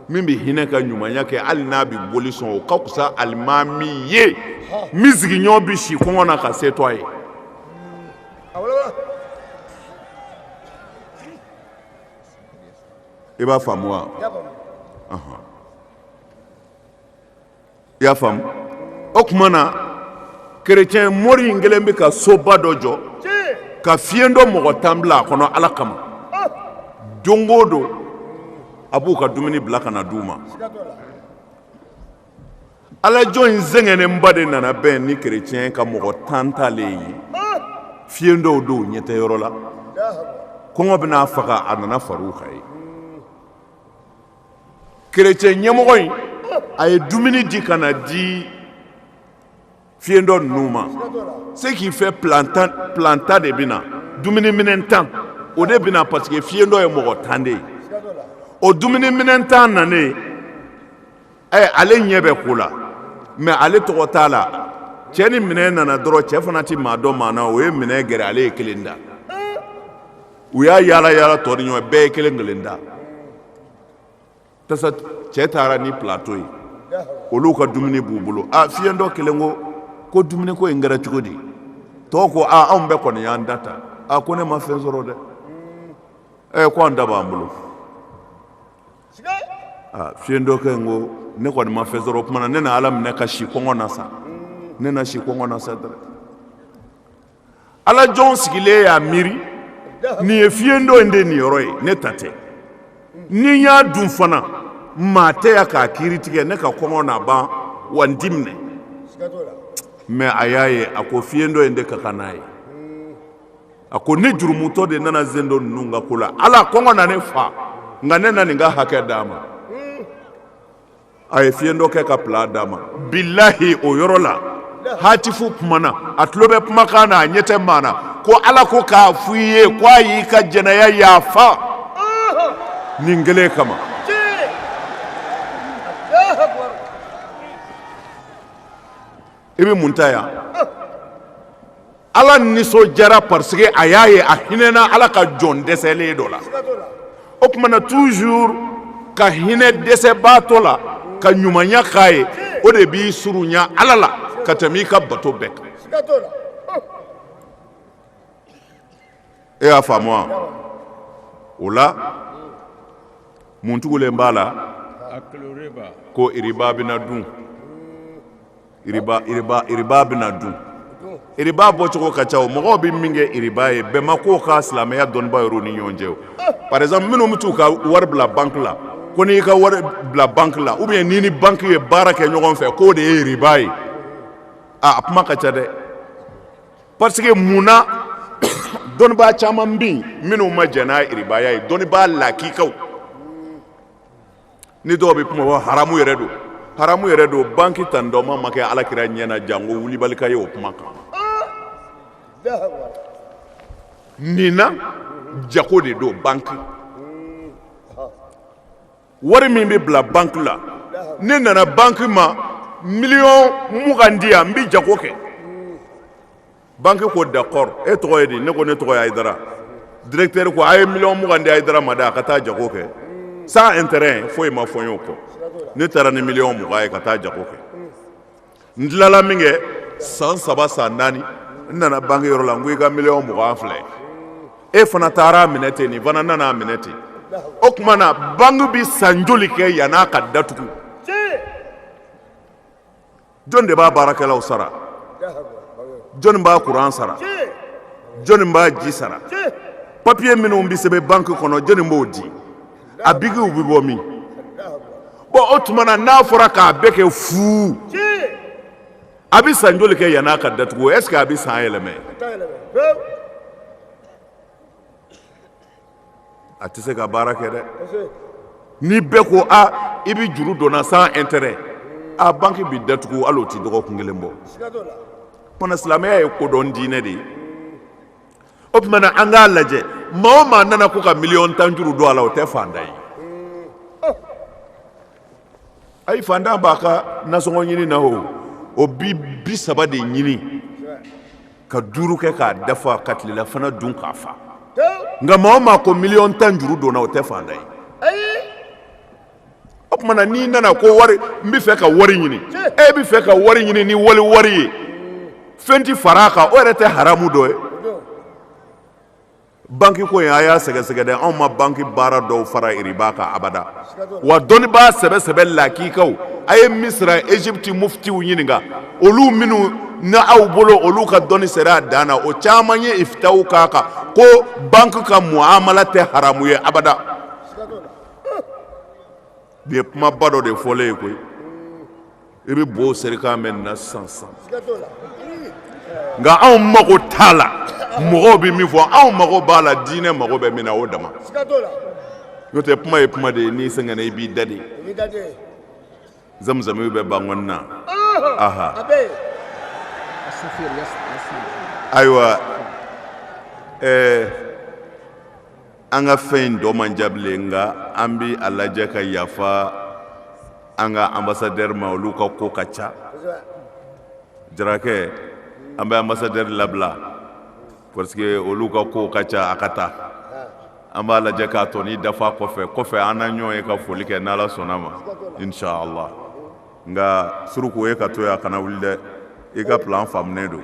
min bɛ hinɛ ka ɲumanya kɛ hali n'a bɛ boli sɔn o ka fisa alimami ye min sigiɲɔgɔn bɛ si kɔngɔ na ka se to a ye i b'a faamu wa i y'a faamu o tuma na kerecɛn mori in kelen bɛ ka soba dɔ jɔ ka fiyentɔ mɔgɔ tan bila a kɔnɔ ala kama don o don a b'u ka dumuni bila ka na di u ma ala jɔn in sɛgɛnnenba de nana bɛn ni kerecɛn ka mɔgɔ tan talen ye fiyentɔw don ɲɛ tɛ yɔrɔ la kɔngɔ bɛ n'a faga a nana far'u kan yen kerecɛn ɲɛmɔgɔ in a ye dumuni di ka na di fiyentɔ ninnu ma ce qui fait plat tan de bɛ na dumuniminɛn tan o de bɛ na parce que fiyentɔ ye mɔgɔ tan de ye o dumuniminɛn tan nanen ale ɲɛ bɛ ko la mais ale tɔgɔ t'a la cɛ ni minɛn nana dɔrɔn cɛ fana tɛ maa dɔn maa na o ye minɛn gɛrɛ ale ye kelen ta u y'a yaala yaala tɔɲɔgɔn bɛɛ ye kelen kelen ta tasa cɛ taara ni plateau ye olu ka dumuni b'u bolo a fiyentɔ kelen ko ko dumuni ko in kɛra cogo di tɔw ko aaa anw bɛɛ kɔni y'an ta ta a ko ne ma fɛn sɔrɔ dɛ ɛ ko an ta b'an bolo fiyentɔ kelen ko ne kɔni ma fɛn sɔrɔ o tuma na ne na ala minɛ ka si kɔngɔ na sa ne na si kɔngɔ na sa dɛrɛ ala jɔn sigilen y'a miiri nin ye fiyentɔ in de niyɔrɔ ye ne ta tɛ ni n y'a dun fana maa tɛ yan k'a kiiri tigɛ ne ka kɔngɔ na ban wa n ti minɛ mais a y'a ye a ko fiyentɔ in de ka kan n'a ye a ko ne jurumutɔ de nana fiyentɔ ninnu ka ko la ala kɔngɔ na ne fa nka ne na nin ka hakɛ d'a ma a ye fiɲɛ dɔ kɛ ka pla d'a ma bilahi o yɔrɔ la hatifu kumana a tulo bɛ kumakan na a ɲɛ tɛ maa na ko ala ko k'a fɔ i ye ko a y'i ka jɛnɛya yafa nin kelen kama i bɛ mun ta yan ala nisɔndiyara parce que a y'a ye a hinɛna ala ka jɔn dɛsɛlen dɔ la o tuma na toujours ka hinɛ dɛsɛbaatɔ la ka ɲumanya k'a ye o de b'i surunya ala la ka tɛmɛ i ka bato bɛɛ kan e y'a faamu wa o la mun tugulen b'a la ko iriba bɛna dun iriba iriba iriba bɛna dun iriba bɔcogo ka ca o mɔgɔw bɛ min kɛ iriba ye bɛn ma k'o kan silamɛya dɔnnibaa yɛrɛw ni ɲɔgɔn cɛ o par exemple minnu bɛ t'u ka wari bila banque la ko n'i ka wari bila banque la ou bien n'i ni banque ye baara kɛ ɲɔgɔn fɛ k'o de ye iriba ye a kuma ka ca dɛ parce que mun na dɔnnibaa caman bɛ minnu ma jɛn n'a iribaya ye dɔnnibaa lakikaw ni dɔw bɛ kuma fɔ haramu yɛrɛ don haramu yɛrɛ don banque tan dɔ ma ma kɛ ala kira ɲɛ na janko wulibali ka ye o kuma kan nin na jago de don ban wari min bɛ bila banque la ne nana banque ma million mugan di yan n bɛ jago kɛ banque ko d'accord e tɔgɔ ye di ne ko ne tɔgɔ ye Ayidara directeur ko a ye million mugan di Ayidara ma dɛ a ka taa jago kɛ sans intérêt foyi ma fɔ n ye o kɔ ne taara ni million mugan ye ka taa jago kɛ. n tilala min kɛ san saba san naani n nana banque yɔrɔ la n ko i ka miliyɔn mugan filɛ e fana taar'a minɛ ten nin fana nan'a minɛ ten o tuma na banque bɛ san joli kɛ yann'a ka datugu jɔn de b'a baarakɛlaw sara jɔn b'a kuran sara jɔn b'a ji sara papiye minnu bɛ sɛbɛn banque kɔnɔ jɔn b'o di a bikiw bɛ bɔ min bon o tuma na n'a fɔra k'a bɛɛ kɛ fu a bɛ san joli kɛ yann'a ka datugu est-ce que a bɛ san yɛlɛmɛ a tɛ se ka baara kɛ dɛ ni bɛɛ ko a i bɛ juru don n na sans intérêt a banque bɛ datugu hali o tɛ dɔgɔkun kelen bɔ kɔnɔ silamɛya ye kodɔn diinɛ de ye o tuma na an k'a lajɛ maa o maa nana ko ka miliyɔn tan juru don a la o tɛ fantan ye ayi fantan b'a ka nasɔngɔ ɲini na o o bi bi saba de ɲini ka duuru kɛ k'a dafa ka tilelafana dun k'a fa nka maa o maa ko miliyɔn tan juru don n na o tɛ fantan ye o tuma na n'i nana ko wari n bɛ fɛ ka wari ɲini e bɛ fɛ ka wari ɲini ni wali wari ye fɛn tɛ fara a kan o yɛrɛ tɛ haramu dɔ ye banki ko in a y'a sɛgɛsɛgɛ dɛ anw ma banki baara dɔw fara iriba kan abada wa dɔnnibaa sɛbɛ sɛbɛ lakikaw a ye misira ezipiti mufitiw ɲininka olu minnu na aw bolo olu ka dɔnni sera a dan na o caman ye ifitaw k'a kan ko banki ka muamala tɛ haramu ye abada nin ye kumaba dɔ de fɔlen ye koyi i bɛ bo serikan mɛn nin na sisan nka anw mago t'a la mɔgɔw bɛ min fɔ anw mago b'a la diinɛ mago bɛ min na o dama n'o tɛ kuma ye kuma de ye n'i sɛgɛnna i b'i da de zamzamiw bɛ bankɔni na aha ayiwa ɛɛ an ka fɛn in tɔ man jan bilen nka an bi a lajɛ ka yafa an ka anbasadɛri ma olu ka ko ka ca jarakɛ an bɛ anbasadɛri labila parce que olu ka ko ka ca a ka taa an b'a lajɛ k'a tɔnin dafa kɔfɛ kɔfɛ an na ɲɔgɔn ye ka foli kɛ n'ala sɔnna ma inshallah nka suruku ye ka to yan a kana wuli dɛ i ka plan faamunen don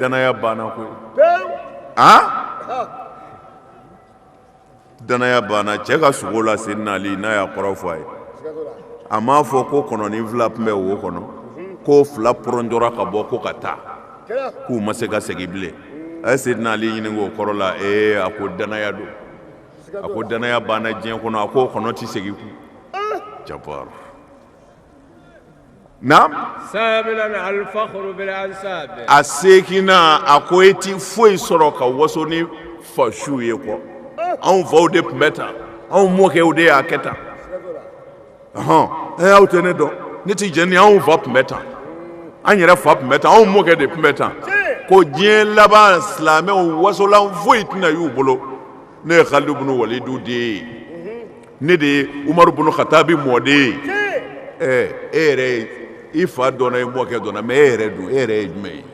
dannaya banna koyi a dannaya banna cɛ ka sugo la seyidina ali n'a y'a kɔrɔ fɔ a ye a m'a fɔ ko kɔnɔnin fila tun bɛ wo kɔnɔ ko fila pɔrɔnjɔra ka bɔ ko ka taa k'u ma se ka segin bilen a ye seyidina ali ɲininka o kɔrɔ la ee a ko dannaya don a ko dannaya banna diɲɛ kɔnɔ a ko kɔnɔ tɛ segin kun cɛbaa Naamu, saaminan alifakuru bil ansaabi a seeginan a ko e tɛ foyi sɔrɔ ka waso ni fa suw ye kɔ, anw faw de tun bɛ tan, anw mɔkɛw de y'a kɛ tan, ɔhɔɔ, ee aw tɛ ne dɔn, ne tɛ jɛn ni anw fa tun bɛ tan, an yɛrɛ fa tun bɛ tan, anw mɔkɛ de tun bɛ tan, ko diɲɛ laban silamɛw wasolan foyi tɛna y'u bolo ne ye Kalidu bunu Walidu den ye ne de ye umaru bunu katabi mɔden ye e yɛrɛ ye i fa dɔnna i mɔkɛ dɔnna mɛ e yɛrɛ dun e yɛrɛ ye jumɛn ye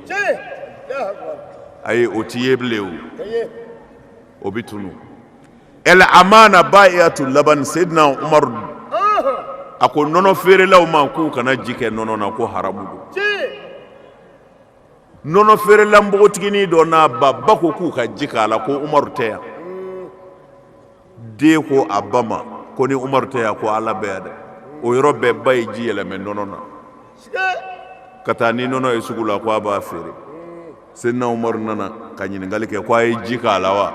ayi o tɛ ye bilen o o bɛ tunun el amana baayiatul laban seyidina umaru a ko nɔnɔ feerelaw ma k'u kana ji kɛ nɔnɔ na ko haramu don nɔnɔ feerela npogotiginin dɔ n'a ba ba ko k'u ka ji k'a la ko umaru tɛ yan den ko a ba ma ko ni umaru tɛ yan ko ala bɛ yan dɛ o yɔrɔ bɛɛ ba ye ji yɛlɛmɛ nɔnɔ na ka taa ni nɔnɔ ye sugu la ko a b'a feere senna umaru nana ka ɲininkali kɛ ko a ye ji k'a la wa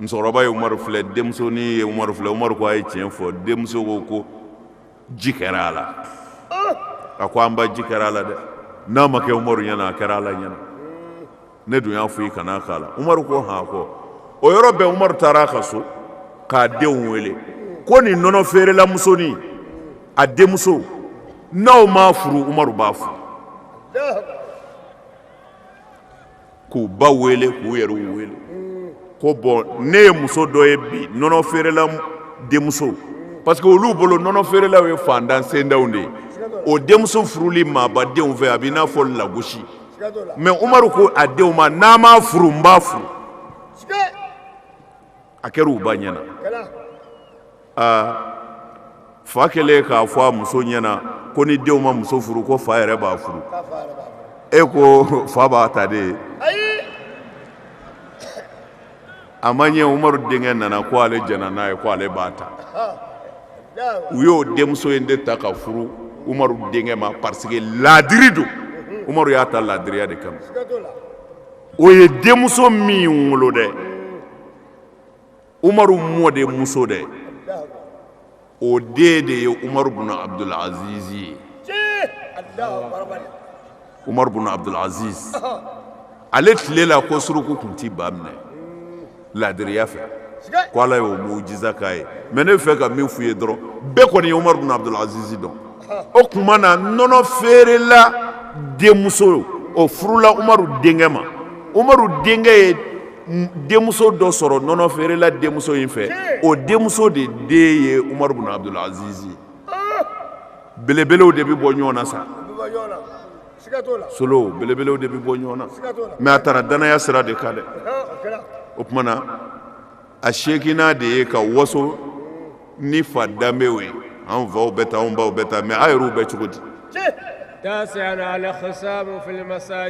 musokɔrɔba ye umaru filɛ denmusonin ye umaru filɛ umaru ko a ye tiɲɛ fɔ denmuso ko ko ji kɛra a la a ko an ba ji kɛra a la dɛ n'a ma kɛ umaru ɲɛna a kɛra ala ɲɛna ne dun y'a fɔ i kana k'a la umaru ko han kɔ o yɔrɔ bɛɛ umaru taara a ka so k'a denw wele ko nin nɔnɔ feerela musonin a denmuso n'aw m'a furu umaru b'a furu k'u ba wele k'u yɛrɛw wele ko bon ne ye muso dɔ ye bi nɔnɔ feerela denmuso parce que olu bolo nɔnɔ feerelaw ye fantan sendaw de ye o denmuso furuli maabadenw fɛ a b'i n'a fɔ lagosi mais umaru ko a denw ma n'a m'a furu n b'a furu a kɛra u ba ɲɛna a fa kɛlen k'a fɔ a muso ɲɛna ko ni denw ma muso furu ko fa yɛrɛ b'a furu e ko fa b'a ta de a ma ɲɛ umaru denkɛ nana ko ale jɛnna n'a ye ko ale b'a ta u y'o denmuso in de ta ka furu umaru denkɛ ma parce que laadiri don umaru y'a ta laadiriya de kama o ye denmuso min wolo dɛ umaru mɔdenmuso dɛ o den de ye umaru bun abudul aziz ye umaru bun abudul aziz ale tile la ko suruku tun tɛ ba minɛ laadiriya fɛ ko ala y'o mujiza k'a ye mais ne bɛ fɛ ka min f'u ye dɔrɔn bɛɛ kɔni ye umaru bun abudul aziz dɔn o tuma na nɔnɔ feerela denmuso o furula umaru denkɛ ma umaru denkɛ ye denmuso dɔ sɔrɔ nɔnɔ feerela denmuso in fɛ o denmuso de den ye umaru bun abdul aziz ye belebelew de bɛ bɔ ɲɔgɔn na sa solo belebelew de bɛ bɔ ɲɔgɔn na mais a taara danaya sira de kan dɛ o tuma na a seeginnan de ye ka waso ni fa danbew ye an faw bɛ tan an baw bɛ tan mais a yɛrɛw bɛ cogo di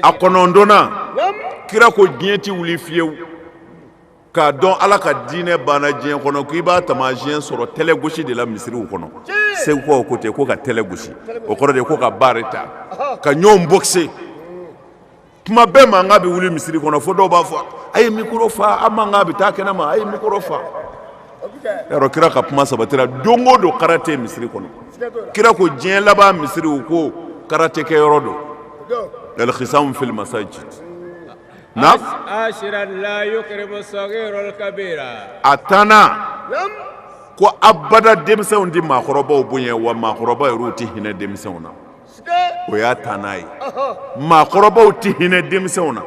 a kɔnɔntɔnnan kira ko diɲɛ tɛ wuli fiyewu k'a dɔn ala ka diinɛ banna diɲɛ kɔnɔ ko i b'a taamasiyɛn sɔrɔ tɛlɛ gosi de la misiriw kɔnɔ segukaw ko ten ko ka tɛlɛ gosi o kɔrɔ de ko ka baari ta ka ɲɔgɔn bɔkise tuma bɛɛ mankan bɛ wuli misiri kɔnɔ fo dɔw b'a fɔ a ye mikoro fa a mankan bɛ taa kɛnɛ ma a ye mikoro fa yɔrɔ kira ka kuma sabatira don o don karate misiri kɔnɔ kira ko diɲɛ laban misiriw ko karate kɛ yɔrɔ don al-khisam fil masajid na a tannan ko abada denmisɛnw tɛ maakɔrɔbaw bonya wa maakɔrɔba yɛrɛw tɛ hinɛ denmisɛnw na o y'a tannan ye maakɔrɔbaw tɛ hinɛ denmisɛnw na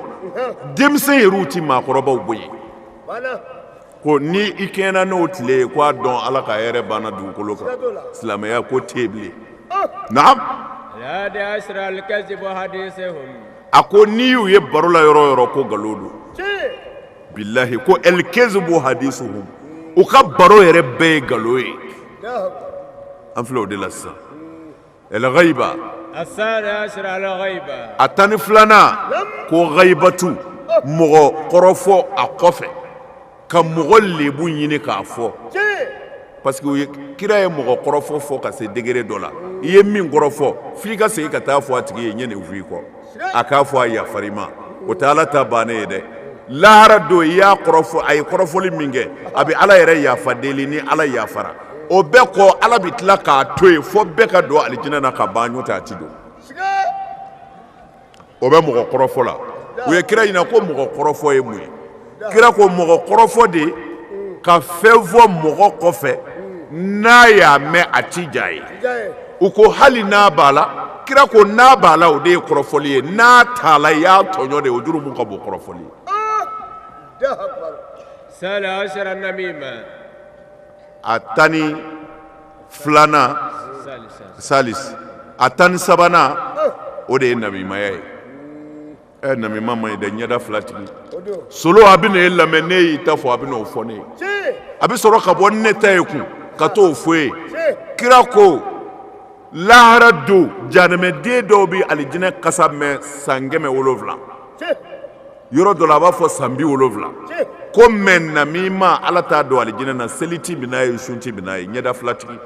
denmisɛn yɛrɛw tɛ maakɔrɔbaw bonya ko ni i kɛɲɛna n'o tile ye ko a dɔn ala ka hɛrɛ banna dugukolo kan silamɛya ko tɛ bilen naam a ko n'i y'u ye baro la yɔrɔ yɔrɔ ko nkalon don bilahi ko el-kezibu hadisuhum u ka baro yɛrɛ bɛɛ ye nkalon ye an filɛ o de la sisan el-ghaiba a tan ni filanan ko ghaibatu mɔgɔ kɔrɔfɔ a kɔfɛ ka mɔgɔ lebu ɲini k'a fɔ parce que kira ye mɔgɔ kɔrɔfɔ fɔ ka se degré dɔ la i ye min kɔrɔfɔ f'i ka segin ka taa fɔ a tigi ye n ye nin f'i kɔ a k'a fɔ a yafar'i ma o tɛ ala ta bannen ye dɛ lahara don i y'a kɔrɔfɔ a ye kɔrɔfɔli min kɛ a bɛ ala yɛrɛ yafa deli ni ala yafara o bɛɛ kɔ ala bɛ tila k'a to yen fo bɛɛ ka don alijinɛ na ka ban n'o tɛ a tɛ don o bɛ mɔgɔ kɔrɔfɔ la u ye kira ɲininka ko mɔgɔ kɔrɔfɔ ye mun ye kira ko mɔgɔ kɔrɔfɔ de ka fɛn fɔ mɔgɔ kɔfɛ n'a y'a mɛn a ti diy'a ye u ko hali n'a b'a la kira ko n'a b'a la o de ye kɔrɔfɔli ye n'a t'a la i y'a tɔɲɔ de ye o jurumu ka bon kɔrɔfɔli ye a tan ni filanan salisi a tan ni sabanan o de ye namimaya ye ɛ namima man ɲi dɛ ɲɛda fila tigi solo a bɛ na e lamɛn n'e y'i ta fɔ a bɛ n'o fɔ ne ye a bɛ sɔrɔ ka bɔ ne ta ye kun ka t'o fɔ ye kira ko lahara don janɛmɛden dɔw bɛ alijinɛ kasa mɛn san kɛmɛ wolonwula yɔrɔ dɔ la a b'a fɔ san bi wolonwula ko mais namima ala t'a don alijinɛ na seli ti bɛ n'a ye sun ti bɛ n'a ye ɲɛda filatigi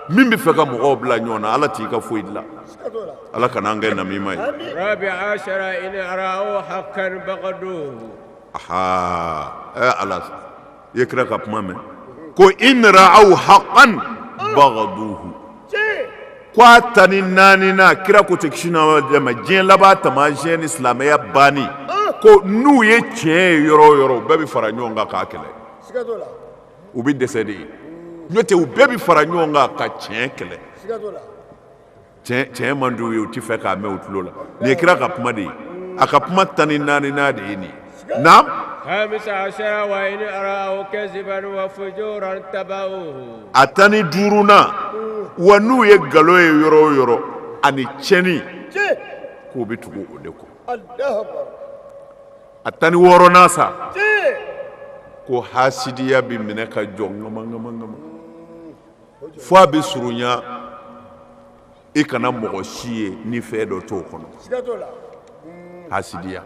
min b'a fɛ ka mɔgɔw bila ɲɔgɔn na ala t'i ka foyi dilan ala kana an kɛ namima ye ala i ye kira ka kuma mɛn ko in ra'aw haqqan bagaduhu ko a tan ni naaninan kira ko tɛ kisi diɲɛ laban taamasiyɛn ni silamɛya banni ko n'u ye tiɲɛ ye yɔrɔ yɔrɔ bɛɛ bɛ fara ɲɔgɔn kan k'a kɛlɛ u bɛ dɛsɛ de ye n'o tɛ u bɛɛ bɛ fara ɲɔgɔn kan ka tiɲɛ kɛlɛ tiɲɛ man di u ye u tɛ fɛ k'a mɛn u tulo la nin ye kira ka kuma de ye a ka kuma tan ni naaninan de ye nin ye naam a tan ni duurunan wa n'u ye nkalon ye yɔrɔ o yɔrɔ ani tiɲɛni k'u bɛ tugu o de kɔ a tan ni wɔɔrɔnan sa ko hasidiya bɛ minɛ ka jɔ ŋamanŋamanŋaman fo a bɛ surunya i kana mɔgɔ si ye ni fɛn dɔ t'o kɔnɔ hasidiya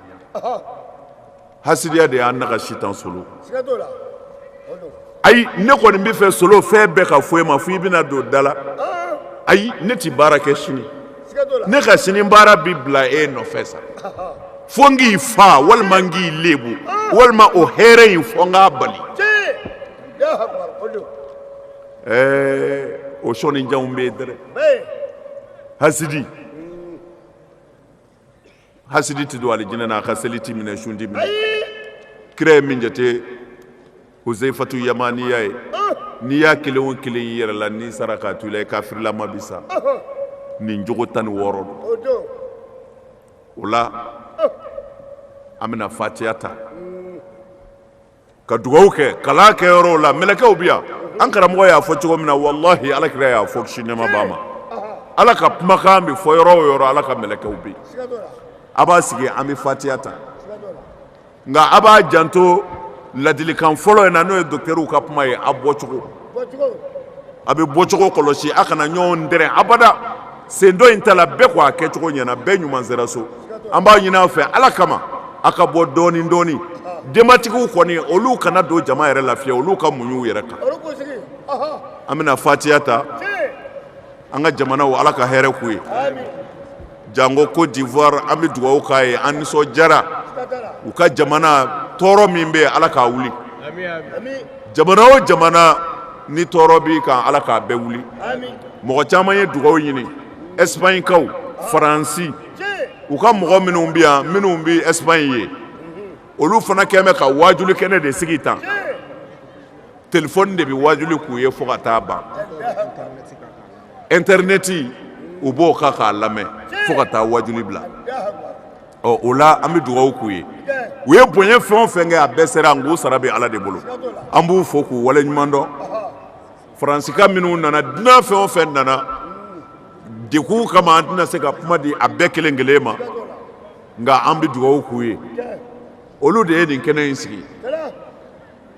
hasidiya de y'an nagasi tan solo ayi ne kɔni bɛ fɛ solo fɛn bɛɛ ka fɔ i ma fo i bɛna don da la ayi ne tɛ baara kɛ sini ne ka sini baara bɛ bila e nɔfɛ sa fo n k'i fa walima n k'i lebu walima o hɛrɛ in fo n k'a bali ɛɛ o sɔnnijanw bɛ yen dɛrɛ hasidi hasidi tɛ don alijinɛ na a ka seli tɛ minɛ sun tɛ minɛ kira ye min jate huzeyifatu yamaniya ye n'i y'a kelen o kelen y'i yɛrɛ la n'i sara k'a to i la i kafirilama bi sa nin jogo tan ni wɔɔrɔ don o la an bɛna fatiya ta ka dugaw kɛ kalan kɛ yɔrɔw la mɛlɛkɛw bi yan an karamɔgɔ y'a fɔ cogo min na walahi ala kira y'a fɔ kisi nɛɛma b'a ma ala ka kumakan bɛ fɔ yɔrɔ o yɔrɔ ala ka mɛlɛkɛw bɛ yen a b'a sigi an bɛ fatiya ta nka a b'a janto ladilikan fɔlɔ in na n'o ye docteurw ka kuma ye a bɔcogo a bɛ bɔcogo kɔlɔsi a kana ɲɔgɔn dɛrɛn abada sen dɔ in ta la bɛɛ ko a kɛcogo ɲɛna bɛɛ ɲuman sera so an b'a ɲini a fɛ ala kama a ka bɔ dɔɔnin dɔɔnin denbatigiw kɔni olu kana don jama yɛrɛ la fiyewu olu ka muɲu yɛrɛ kan an bɛna fatiya ta an ka jamanaw ala ka hɛrɛ k'u ye jango côte d'ivoire an bɛ dugawu k'a ye an nisɔndiyara u ka jamana tɔɔrɔ min bɛ yen ala k'a wuli jamana o jamana ni tɔɔrɔ b'i kan ala k'a bɛɛ wuli mɔgɔ caman ye dugawu ɲini espagnekaw faransi u ka mɔgɔ minnu bɛ yan minnu bɛ espagne ye olu fana kɛlen bɛ ka waajuli kɛnɛ de sigi tan telefɔni de bɛ waajuli k'u ye fo ka taa ban intɛrnɛti u b'o kan k'a lamɛn fo ka taa waajuli bila ɔ o la an bɛ dugawu k'u ye u ye bonya fɛn o fɛn kɛ a bɛɛ sera nk'u sara bɛ ala de bolo an b'u fo k'u wale ɲuman dɔn faransika minnu nana dunan fɛn o fɛn nana denkun kama an tɛna se ka kuma di a bɛɛ kelen kelen ma nka an bɛ dugawu k'u ye olu de ye nin kɛnɛ in sigi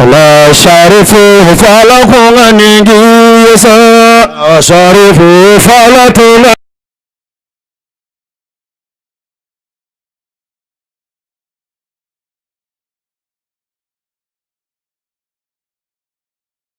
Ala sari fe fa la kun ka nin ye sa sari fe fa la tun bɛ